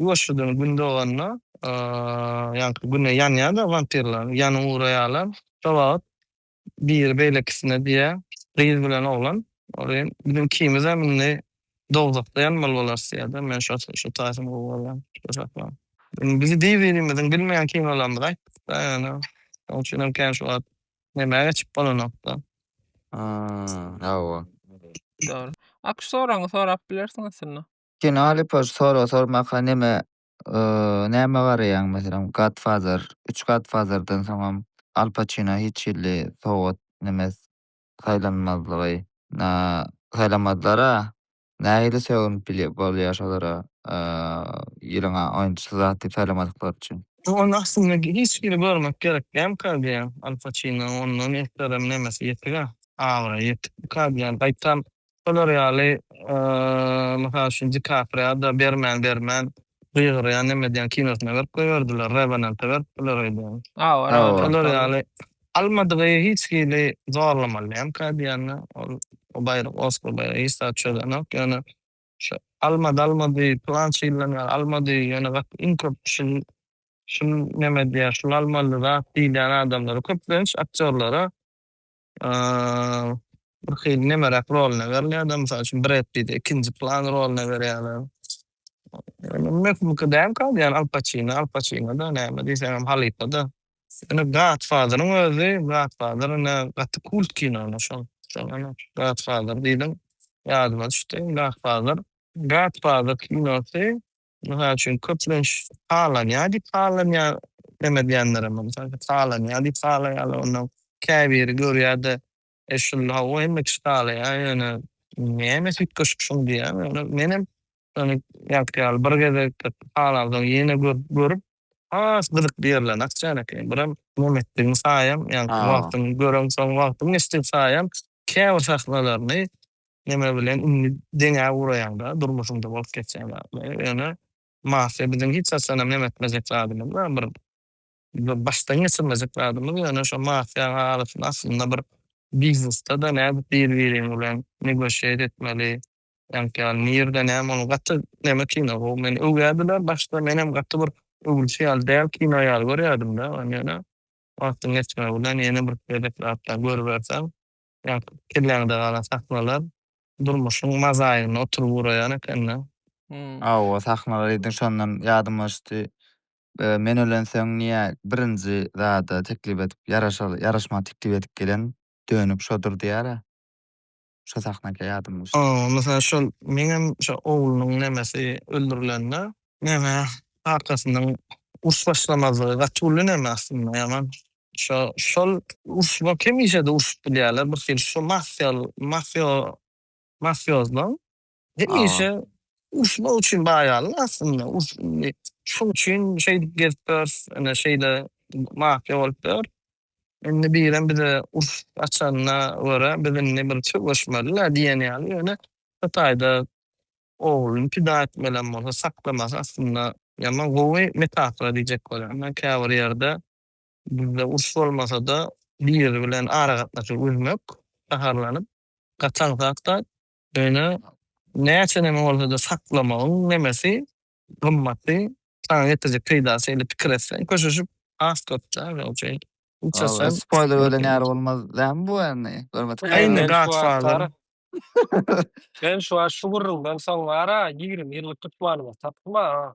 Ýuwaşjadan gün doganda, ýaňky güne ýanýar-da wampirleriň ýanyny guraýarlar. Şo wagt biri beýlekisine diýýär, Gyz bilen oglan, ory biziň ikimizem indi dowzahda ýanmaly bolarys diýýär-de, men şo taýsyny gowy görýän şo çaklar. Indi biz bir-birimiziň bilmeýän kinolarymyzy aýtdyk-da ýöne, şonuň üçinem kän şu wagt nemä geçip bolanok-da. Hawa. Dogry. Akshoraňy sorap bilersiň aslynda. Kino Alypoş sorag sormaka neme näme garaýaň meselem Godfather üç Godfatherdan soňam Al Paçino hiç hili sowgat neme saýlanmazlygy na saýlamazlara nähili sögünip bilýär bolýar şolara ýylyň oýunçysy zat diýip saýlamadyklary üçin. Ony aslynda hiç hili görmek gerek dälmika diýýän Al Paçino ondan eslerem nemesi ýetik-ä abraýy ýetik bu ka diýýän gaýtam Şolar ýaly, mysal üçin, DiKapriýa-da bermän bermän, gygyrýan neme diýen kinosyna berip goýberdiler, Rewenanta beripdiler öýdýän. Şolar ýaly almadygy hiç hili zorlamaly dälkä diýende, ol o baýrak, Oskar baýragy hiç zat çözenok, ýöne şu almady almady, pylança ýyldan bäri almady, ýöne gaty iň köp şul şul neme diýýär, şul almaly zat diýilýän adamlara, köplenç aktýorlara bir hili nemeräk roluna berilýär-de, mysal üçin, Bred Pitti ikinji plan roluna berýärler. Ýöne möhümki däl kal, ýagny Al Paçino, Al Paçino-da näme diýseňem halypa-da. Ýöne Godfather-yň özi, Godfather ine gaty kult kino ine şol. Şol ine Godfather diýdiň, ýadyma düşdi. Godfather, Godfather kinosy Mysal üçin, köplenç halanýar diýip halanýar demedýänlerem bar. Mysal üçin, halanýar diýip halaýarlar. Onda käbiri görýär-de, e, şul, hawa, hemme kişi halaýar, ýöne nämes üýtgeşik şuň diýýär. Ýöne menem şony ýaňky ýaly bir gezek halapsoň ýene görüp, has gyzykly ýerlerini açýan ekeni. Biram Mämmetligiň saýam, ýaňky wagtyň göreň soň wagtyň geçdi saýam käbir sahnalaryny neme bilen indi deňä uraýaňda durmuşyňda bolup geçýän zatlaryň ýöne mafiýa biziň hiç haçanam neme etmejek zadymyz bar bir bir başdan geçirmejek zadymyz ýöne şo mafiýaň arasynda aslynda bir biznesde-de nädip bir biriň bilen negoşiýet etmeli Ýaňky ýaly nirde näme ol gaty neme kino bu meni öwýärdiler başda menem gaty bir öwülişi ýaly däl kino ýaly görýärdimdä ony ýöne wagtyň geçmegi bilen ýene bir gezek zatlar görüberseň ýaňky kelläňde galan sahnalar durmuşyň mazaýyny oturyp ugraýan ekende. Hawa sahnalar diýdiň şondan ýadyma düşdi men ölensoň niýe birinji zada teklip edip ýaraşmaga teklip edip gelen dönük şodur diýärä. Şo sahnaky ýadym düşdi. O mysal şol meňem şo oglunyň nemesi öldürilende neme kakasynyň uruş başlamazlygy gaty uly neme aslynda ýaman şo şol uruş bolup hemişede urşup bilýäler bir hili şo mafýal mafýo mafýozlaň Hemişe urşmak üçin baýarlar aslynda. Indi şunuň üçin şeýdip gezip ýörüs, ine şeýle mafiýa bolup ýör. Indi birem bize uruş açanyna görä, biz indi bir söweşmeli-le diýen ýaly. Ýöne bir taýda ogluny pida etmelem bolsa saklamasy aslynda ýaman gowy metafora diýjek bolýan. Käbir ýerde bizde uruş bolmasa-da, biri bilen aragatnaşygy üzmek gaharlanyp gaçan zat-da Ýöne näçe neme bolsa-da saklamagyň nemesi gymmaty, saňa getirjek peýdasy eli pikir etseň köşeşip has köp da ýöne uje hiç etsem. Spoýler berlen ýaly bolmaz dämi bu indi görmedik. Eýni Godfather. Men şu wagt şu gürrüňden soň bar-a ýigrimi ýyllyk tutmanyma tapdym-a.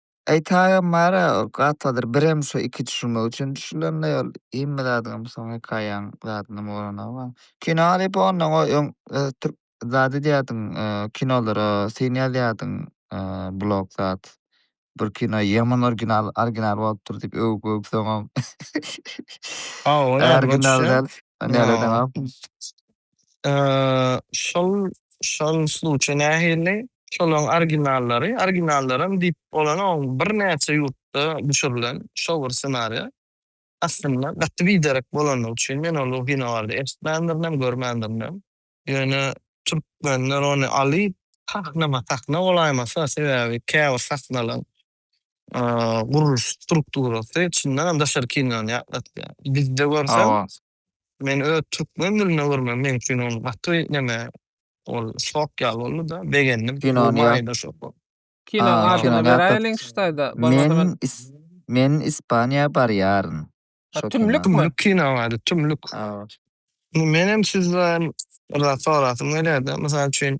Aýtaga Mara gatladyr birem şu iki düşünmek üçin düşülenleý ol hemme zadyňam soň hekaýaň zadynam goranagy bar. Kino diýip ondan goý öň türk zat edýärdiň kinolara syn ýazýardyň blog zat bir kino ýaman orginal orginal bolupdyr diýip öwüp öwüp soňam orginal däl näledeňok. Şol şol sluçe nähili? Şolaň originallary, originallaram diýip bolanok, birnäçe ýurtda düşürilen şo bir ssenariýa. Aslynda gaty biderek bolandygy üçin men ol o kino barada eşitmändirinem, görmändirinem. Ýöne türkmenler ony alyp sahnama sahna bolaýmasa, sebäbi käbir sahnalaň gurluş strukturasy çyndanam daşary kinony ýatlatýar. Bizde görseň Men öz türkmen dilinde görmem meň üçin ol gaty neme ol şok ýaly boldyda begendim bu maýda şok. Kinoň adyny beräýeliň şu taýda bolmasa men. Men ispaniýa barýaryn. Tümlük mi? Tümlük kinoň ady tümlük. Menem sizden bir zat sorasym gelýärdi. Mysal üçin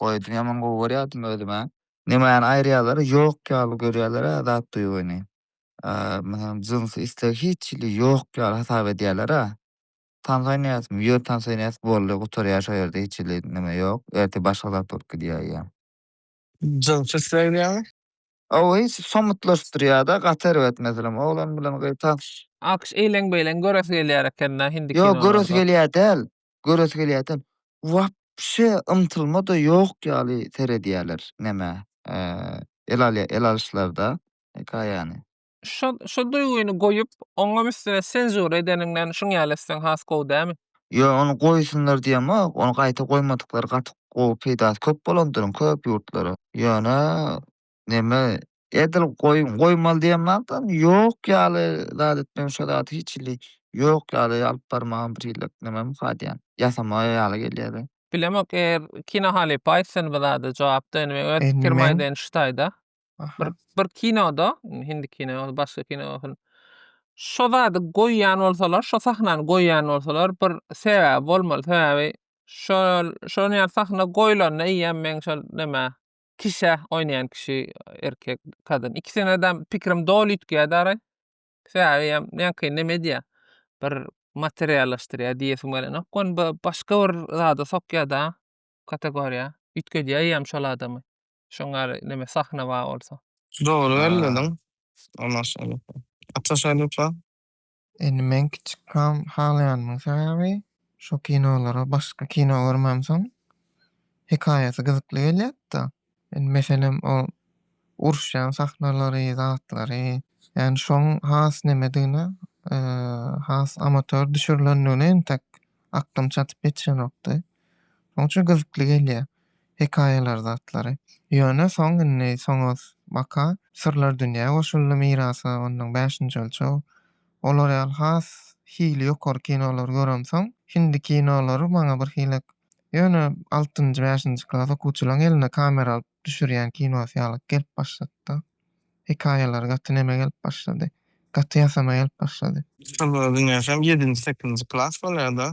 goýdum ýaman gowy görýärdim özüme. Nämäni aýyrýalar ýok ýaly görýälerä zat duýgyny. Meselem jynsy isleg hiç hili ýok ýaly hasap edýälerä. Tans oýnaýasmy ýör tans oýnaýas boldy gutarýar şo ýerde hiç hili näme ýok ertir başga zat bolup gidýär ýa. Jynsy isleg diýýäňmi? Owo hiç somutlaşdyrýada gaty erbet meselem oglan bilen gyz tans. Alkyş eýleň beýleň göresi gelýär ekendä hindi kinolarda. Ýok göresi gelýär däl göresi gelýärdi. Wapşe ymtylma-da ýok ýaly seredýärler nämä, el alýa, el alyşlarda hekaýany. Şo, şo duýgyny goýup, oňam üstüne senzura edeniňden şuň ýaly etseň has gowy dämi? Ýo, ony goýsunlar diýemok, ony gaýta goýmadyklary gaty gowy, peýdasy köp bolandyr köp ýurtlara. Ýöne Neme edil goýun goýmaly diýen matam ýok ýaly zat etmegim şo zat hiç hili ýok ýaly alyp barmagym bir hili nemem hadýan ýasama ýaly gelýäde. Bilemok eger kino halypa aýtsyn bu zada jogap da indi men öz Indi pikirimi men- aýdaýyn şu taýda. Aha. Bir bir kinoda indi hindi kino bolsun başga kino bolsun şo zady goýýan bolsalar şo sahnany goýýan bolsalar bir sebäbi bolmaly sebäbi şol şonuň ýaly sahna goýlanda eýýäm meň şol neme Kişä oýnaýan kişi erkek kadyn ikisine de pikirim doly üýtgeýär daraý. Sebäbi hem näki neme edýär? Bir materiallaşdyrýar diýesim gelenok. Ony bir başga bir zada sokýar-da kategoriýa. Üýtgedýär hem şol adamy. Şoň ýaly neme sahna bar bolsa. Dogry belledin. Maşallah. Atýaşaýlypsa. Indi men kiçi kal halaýanymyň sebäbi şo kinolara başga kino görmemsoň hekaýasy gyzykly gelýärdi-da. Indi meselem o uruşýan sahnalary, zatlary ýagny şoň has nemedigine has amator düşürilendigine entek aklym çatyp ýetişenokdy. Şoň üçin gyzykly gelýär. hekaýalar zatlary. Ýöne soň indi soňuz baka Syrlar dünýä goşuldy mirasa ondan Bäşinji ölçeg olar ýaly has hili ýokary kinolary göremsoň hindi kinolary maňa bir hilek ýöne altynjy bäşinji klas okuwçylaň eline kamera alyp düşürýän kinosy ýalyk gelip başladyda hekaýalary gaty neme gelip başlady gaty ýasama gelip başlady. Syrlar dünýäsem ýedinji sekizinji klas bolýada.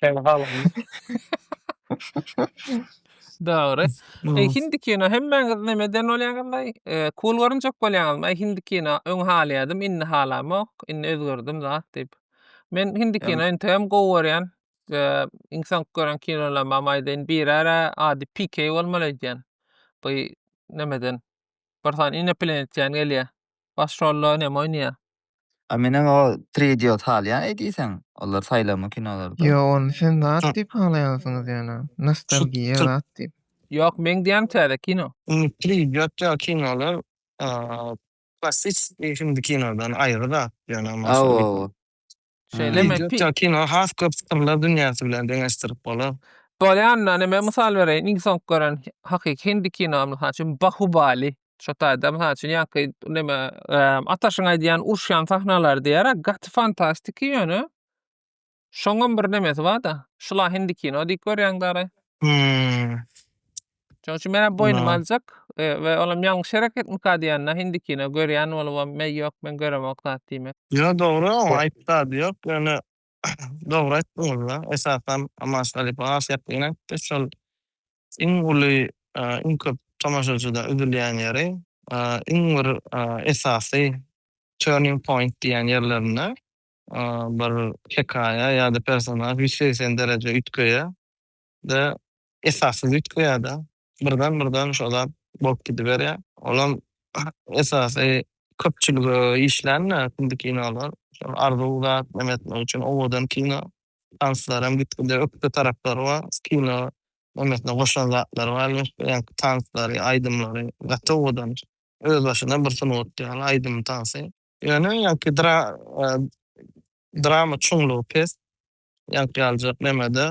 Kän halandy. Dogry. E, hindi kino hemmäňiz nemeden bolýaňyzlaý? E, cool görünjek bolýaňyzmy? E, hindi kino öň halaýadym, indi halamok, indi özgerdim zat diýip. Men hindi Ýa- kino entegem gowy görýän. E, iň soňky gören kinolarymam aýdaýyn, birara ady PK bolmaly öýdýän. Bu nemeden bir sany ineplenietýan gelýär. Baş rolda näme oýnaýar? A menem o tri idiot salýan eýdiseň olar saýlama kinolarda. Ýo ony sen zat diýip halaýansyňyz ýöne nostalgiýa zat diýip. Ýok meň diýýänim täze kino. Indi tri idiot ýaly kinolar klassisiki hindikinodan aýry zat ýöne maşa. Hawa hawa. Şeýlemi? Wideo ýa-da kino has köp syrlar dünýäsi bilen deňeşdirip bolar. Bolýanda, men mysal bereýin, iň soňky gören hakyky hindi kinomy, mysal üçin, Bahubali. Şo taýda, mysal üçin, ýaňky neme, Ataşyň aýdýan uruşýan sahnalary diýer-ä, gaty fantastiki ýöne şoňam bir nemesi bar-da, şul-a hindi kino diýip görýäňdä araý. Hum. Şoň üçin men boýnuma Ynha. aljak e, we olam ýalňyş hereketmika diýende indikine görýän bolubam, meý ýok men göremok zat diýmek. Ýo dogry oň aýyp zady ýok ýöne dogry aýtdyňyzda esasan Amaş halypa has ýakyn aýtdy şol iň uly iň köp tomaşaçyda üzülýän ýeri iň bir esasy turning point diýen ýerlerinde bir hekaýa ýada personaž ýüz segsen dereje üýtgeýä de esassyz üýtgeýär-de, birden-birden şo zat bolup gidiberýär. Olam esasy köpçülige işlän-de indiki kinolar. Şol arzuw zat neme etmek üçin owadan kino. Tanslar hem gitgide ökde taraplary bar. Kino nemesine goşan zatlary bar elbetde. Ýaňky tanslary, aýdymlary gaty owadan. Öz başyna bir sungat ýaly aýdym-tansy. Ýöne ýaňky drama çuňlugy pes. ýaňky aljak nemede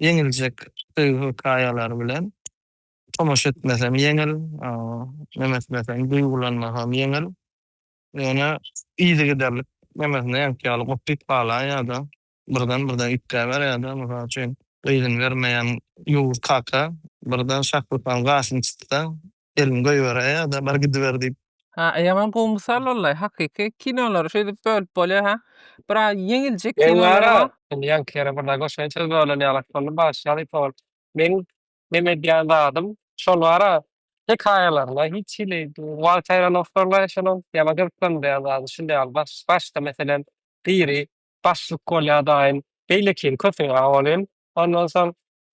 ýeňiljek söýgi hykaýalary bilen tomaşa etmesem ýeňil neme etmesem duýgulanmasam ýeňil ýöne yzygiderlik nemesinde ýaňky ýaly gopyp galan ýada birden birden üýtgäber ýada mysal üçin gyzyny bermeýän ýowuz kaka birden şahrypany gaşyny çytsaň Gelin goýber aýada bar gidiber diýip. Ha ýaman gowy mysal wallay hakyky kinolary şeýdip bölüp bolýa ha biraz ýeňiljek kinolar bar. Indi ýaňky ýere birnäe goşaýyn söz bölen ýalak boldy bagyşla halypa bolup. Meň meme edýän zadym şol bara hekaýalarynda hiç hili wal çaýran owçarlar eşelon ýaman gyzyklandyrýan zady şunda ýaly baş başda meselem biri başlyk bolýa daýym beýlekini köpüň aw bolýan ondan soň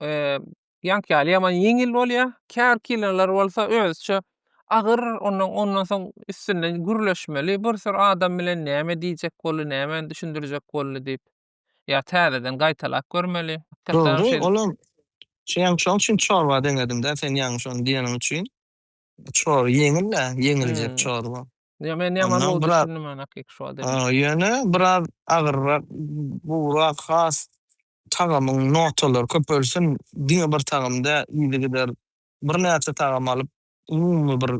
eee, ýaňky ýaly ýaman ýeňil bolýar. Käbir kinolar bolsa özüçe agyr, ondan ondan soň üstünde gürleşmeli, bir sürü adam bilen näme diýjek boldy, nämäni düşündirjek boldy diýip, ýa täzeden gaýtalap görmeli. Dogry, olam şeýle şoň üçin çorba deňedim-dä sen ýaňy şony diýeniň üçin. Çorba ýeňil-ä, ýeňiljek Hmm. çorba. Ýa men ýaman Ondan gowy biraz- düşündim men hakyky şu adamy. Ha, ýöne biraz agyrrak, buwrak, has tagamyň notalary köpelsin, diňe bir tagam däl, yzygider birnäçe tagam alyp, umumy bir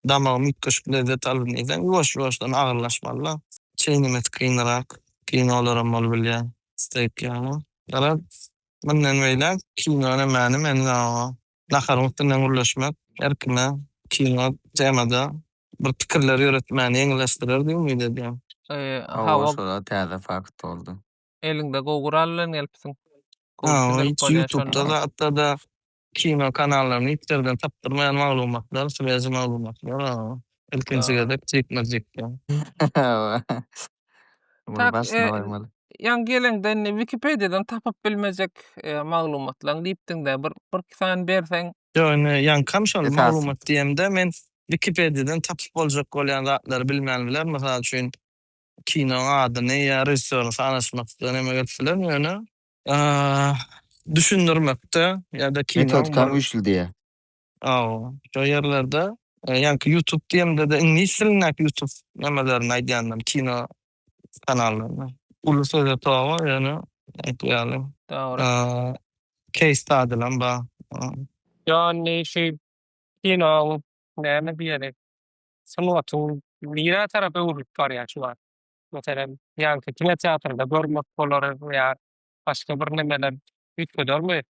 damagymy üýtgeşik lezzet alsyn diýseň, ýuwaş-ýuwaşdan agyrlaşmaly-da. Çeýnemesi kynrak, kinolaram bolup bilýär, steýk ýaly. Garaz, mundan beýläk kinonyň mäni meniň awa. Naharyň üstünden gürleşmek erkine kino temada bir pikirler ýöretmäni ýeňilleşdirer diýip umyt edýän. Hawa şoda täze fakt boldy. Eliňde gowy gural bilen gelipsiň. Hiç ýutubda zatda-da kino kanallaryny hiç ýerden tapdyrmaýan maglumatlar, swezi maglumatlar ilkinji gezek jikme-jikde. Munuň Tak, barsyna e, barmaly. ýaňy geleňde indi Wikipediýadan tapyp bilmejek e, maglumatlaň diýipdiň-dä, bir bir iki sany berseň. Ýok, indi ýaňkam şol Esasy. maglumat diýemde men Wikipediýadan tapyp boljak bolýan zatlary bilmän bilerin. Mysal üçin, kinoň adyny ýa režissýoryny sanaşmakda näme gelip bilerin, ýöne a, düşündirmekde ýa-da kinoň Metodikam bir güýçli diýýä. Hawa, şo ýerlerde ýaňky ýutub diýemde-de iňlis dilindäki ýutub nämelerini aýdýandam, kino kanallaryny. Uly söze toba, ýöne aýtgy ýaly. Dogry. Case study'lam bar. Ýagny şu kinoň, näme diýeli, sungatyň nirä tarap öwrülip barýar şu wagt? Meselem, ýaňky kinoteatrda görmek bolar ýa başga bir nemeler üýtgedermi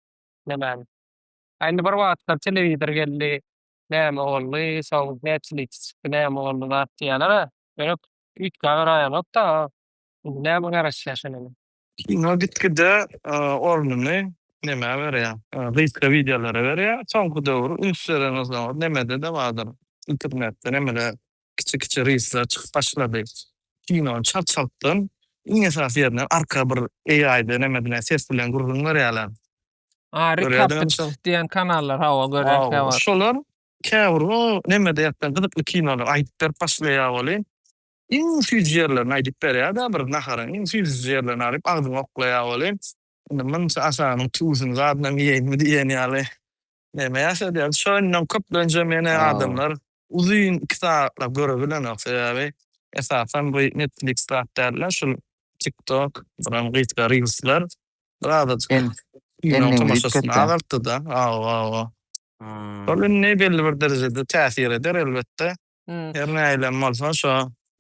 nemäni? Ä indi bir wagtlar telewizor geldi, näme boldy, soň Netflix çykdy, näme boldy zat diýýäler-ä. Ýöne üýtgä garaýanok-da, indi näme garaşýar şonuň. Kino gitgide ornuny nämä berýär, gysga wideolara berýär. Soňky döwür üns beren gyzlar nämede-de bardyr, internetde nämeler, kiçi-kiçi reelsler çykyp başlady. Kinony çalt-çaltdan, iň esasy ýerinden arka bir AI-de, nämede-de ses bilen gürrüň berýärler. Ary kapyç diýen kanallar hawa görýän kä bar. Şolar käbir o nemede ýatdan gyzykly kinolar aýdyp berip başlaýar welin iň süýji ýerlerini aýdyp berýärda bir naharyň iň süýji ýerlerini alyp agzyňa oklaýar welin indi munça aşagynyň tüwüsini zadynam iýeýinmi diýen ýaly neme ýaşadýar. Şo indi köplenç hem ýene adamlar Uzyn iki sagatla görebilenok sebäbi esasan bu netflix zat dälda şul tik tok buram gysga reelsler bir azajyk kinoň tomaşasyny azaltdyda aw aw aw şol indi belli bir derejede täsir eder elbetde her nähilem bolsa şo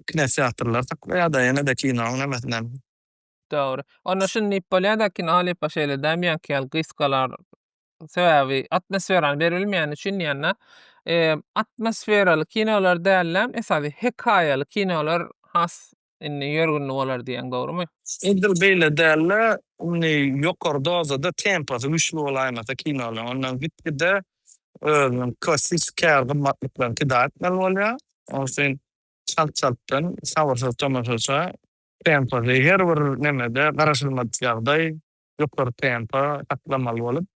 kinoteatrlar saklaýada ýenede kinoň nemesinem. Dogry. Onda şuny diýip bolýada kino halypa şeýle däl meňki ýaly gysgalar Sebäbi atmosferany berilmeýäni üçin diýende, eee, atmosferaly kinolar dälläm, esasy hekaýaly kinolar has indi ýörgünli bolar diýýäň, dogrumy? Edil beýle dälde, indi ýokary dozada temposy güýçli bolaýmasa kinolaryň, onda gitgide özüniň klassiki käri gymmatlyklaryny pida etmeli bolýar. Onuň üçin çalt-çaltdan, sabyrsyz tomaşaça, temposy her bir nemede garaşylmadyk ýagdaý, ýokary tempa saklamaly bolup,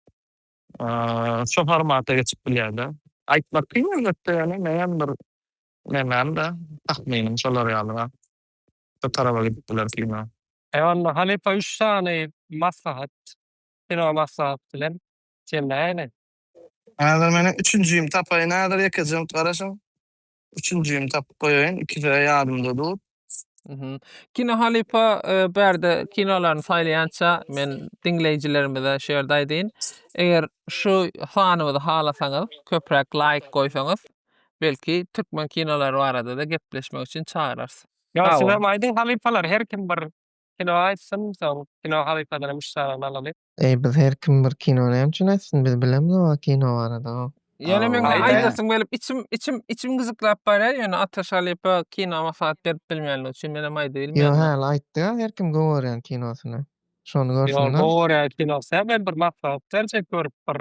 şo formata geçip bilýär-de. Aýtmak kyn elbetde, ýöne meýem bir nämämde, tahminim şolar ýalyra şo taraba gidip biler kino. Onda halypa üç sany maslahat, kino maslahat bilen jemläýeli. Häzir meniň üçünjimi tapaýyn häzir ýekeje minut garaşyň. Üçünjimi tapyp goýaýyn, ikisi-ä ýadymda dur. Mhm. Kino halypa e, bu ýerde kinolaryny saýlaýança men diňleýjilerimize şu ýerde aýdaýyn. Eger şu sanymyzy halasaňyz, köpräk laýk goýsaňyz, belki türkmen kinolary barada-da gepleşmek üçin çagyrarys. Ýa Sag siz boluň. hem aýdyň halypalar, her kim bir Kino aýtsyn soň kino halypasynam üç sanyny alaly. Eý biz her kim bir kino näme üçin aýtsyn biz bilemiz oba kino barada hop. Ýöne meň Aýt, aýt. aýdasym gelip içim içim içim gyjyklap barýar ýöne Ataş halypa kino maslahat berip bilmänligi üçin menem aýdyp Ýo bilmeýän. häli aýtdyga her kim gowy görýän kinosyny. Şony Ýo görsünler. gowy görýän kinosy hä men bir maslahat berjek görüp bir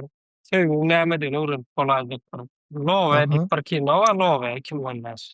söýgiň nämedigini öwrenip bolaýjak bir Nowe Aha. diýip bir kino bar Nowe iki müň on bäş.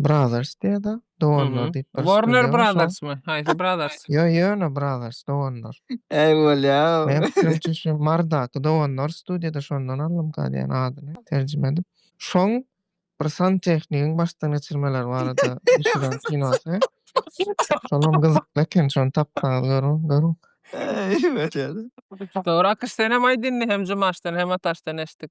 Brothers diýýär-de, doganlar Mhm. diýip bir Warner studiýa bar, şoň. Brothersmy? Haýsy Brothers? Ýo, ýöne Brothers, doganlar. Äý bolýa-ow. Meň pikirimçe şu Mardaky doganlar studiýa-da şondan aldym galy ýany adyny terjime edip. Şoň bir santehnigin başdan geçirmeleri barada düşüren kinosy. Şolam gyzykly eken, şony tapsaňyz görüň, görüň. Äý bolýa-da. Dogry, Akyş senem aýt indi hem Jumaşdan hem Ataşdan eşitdik.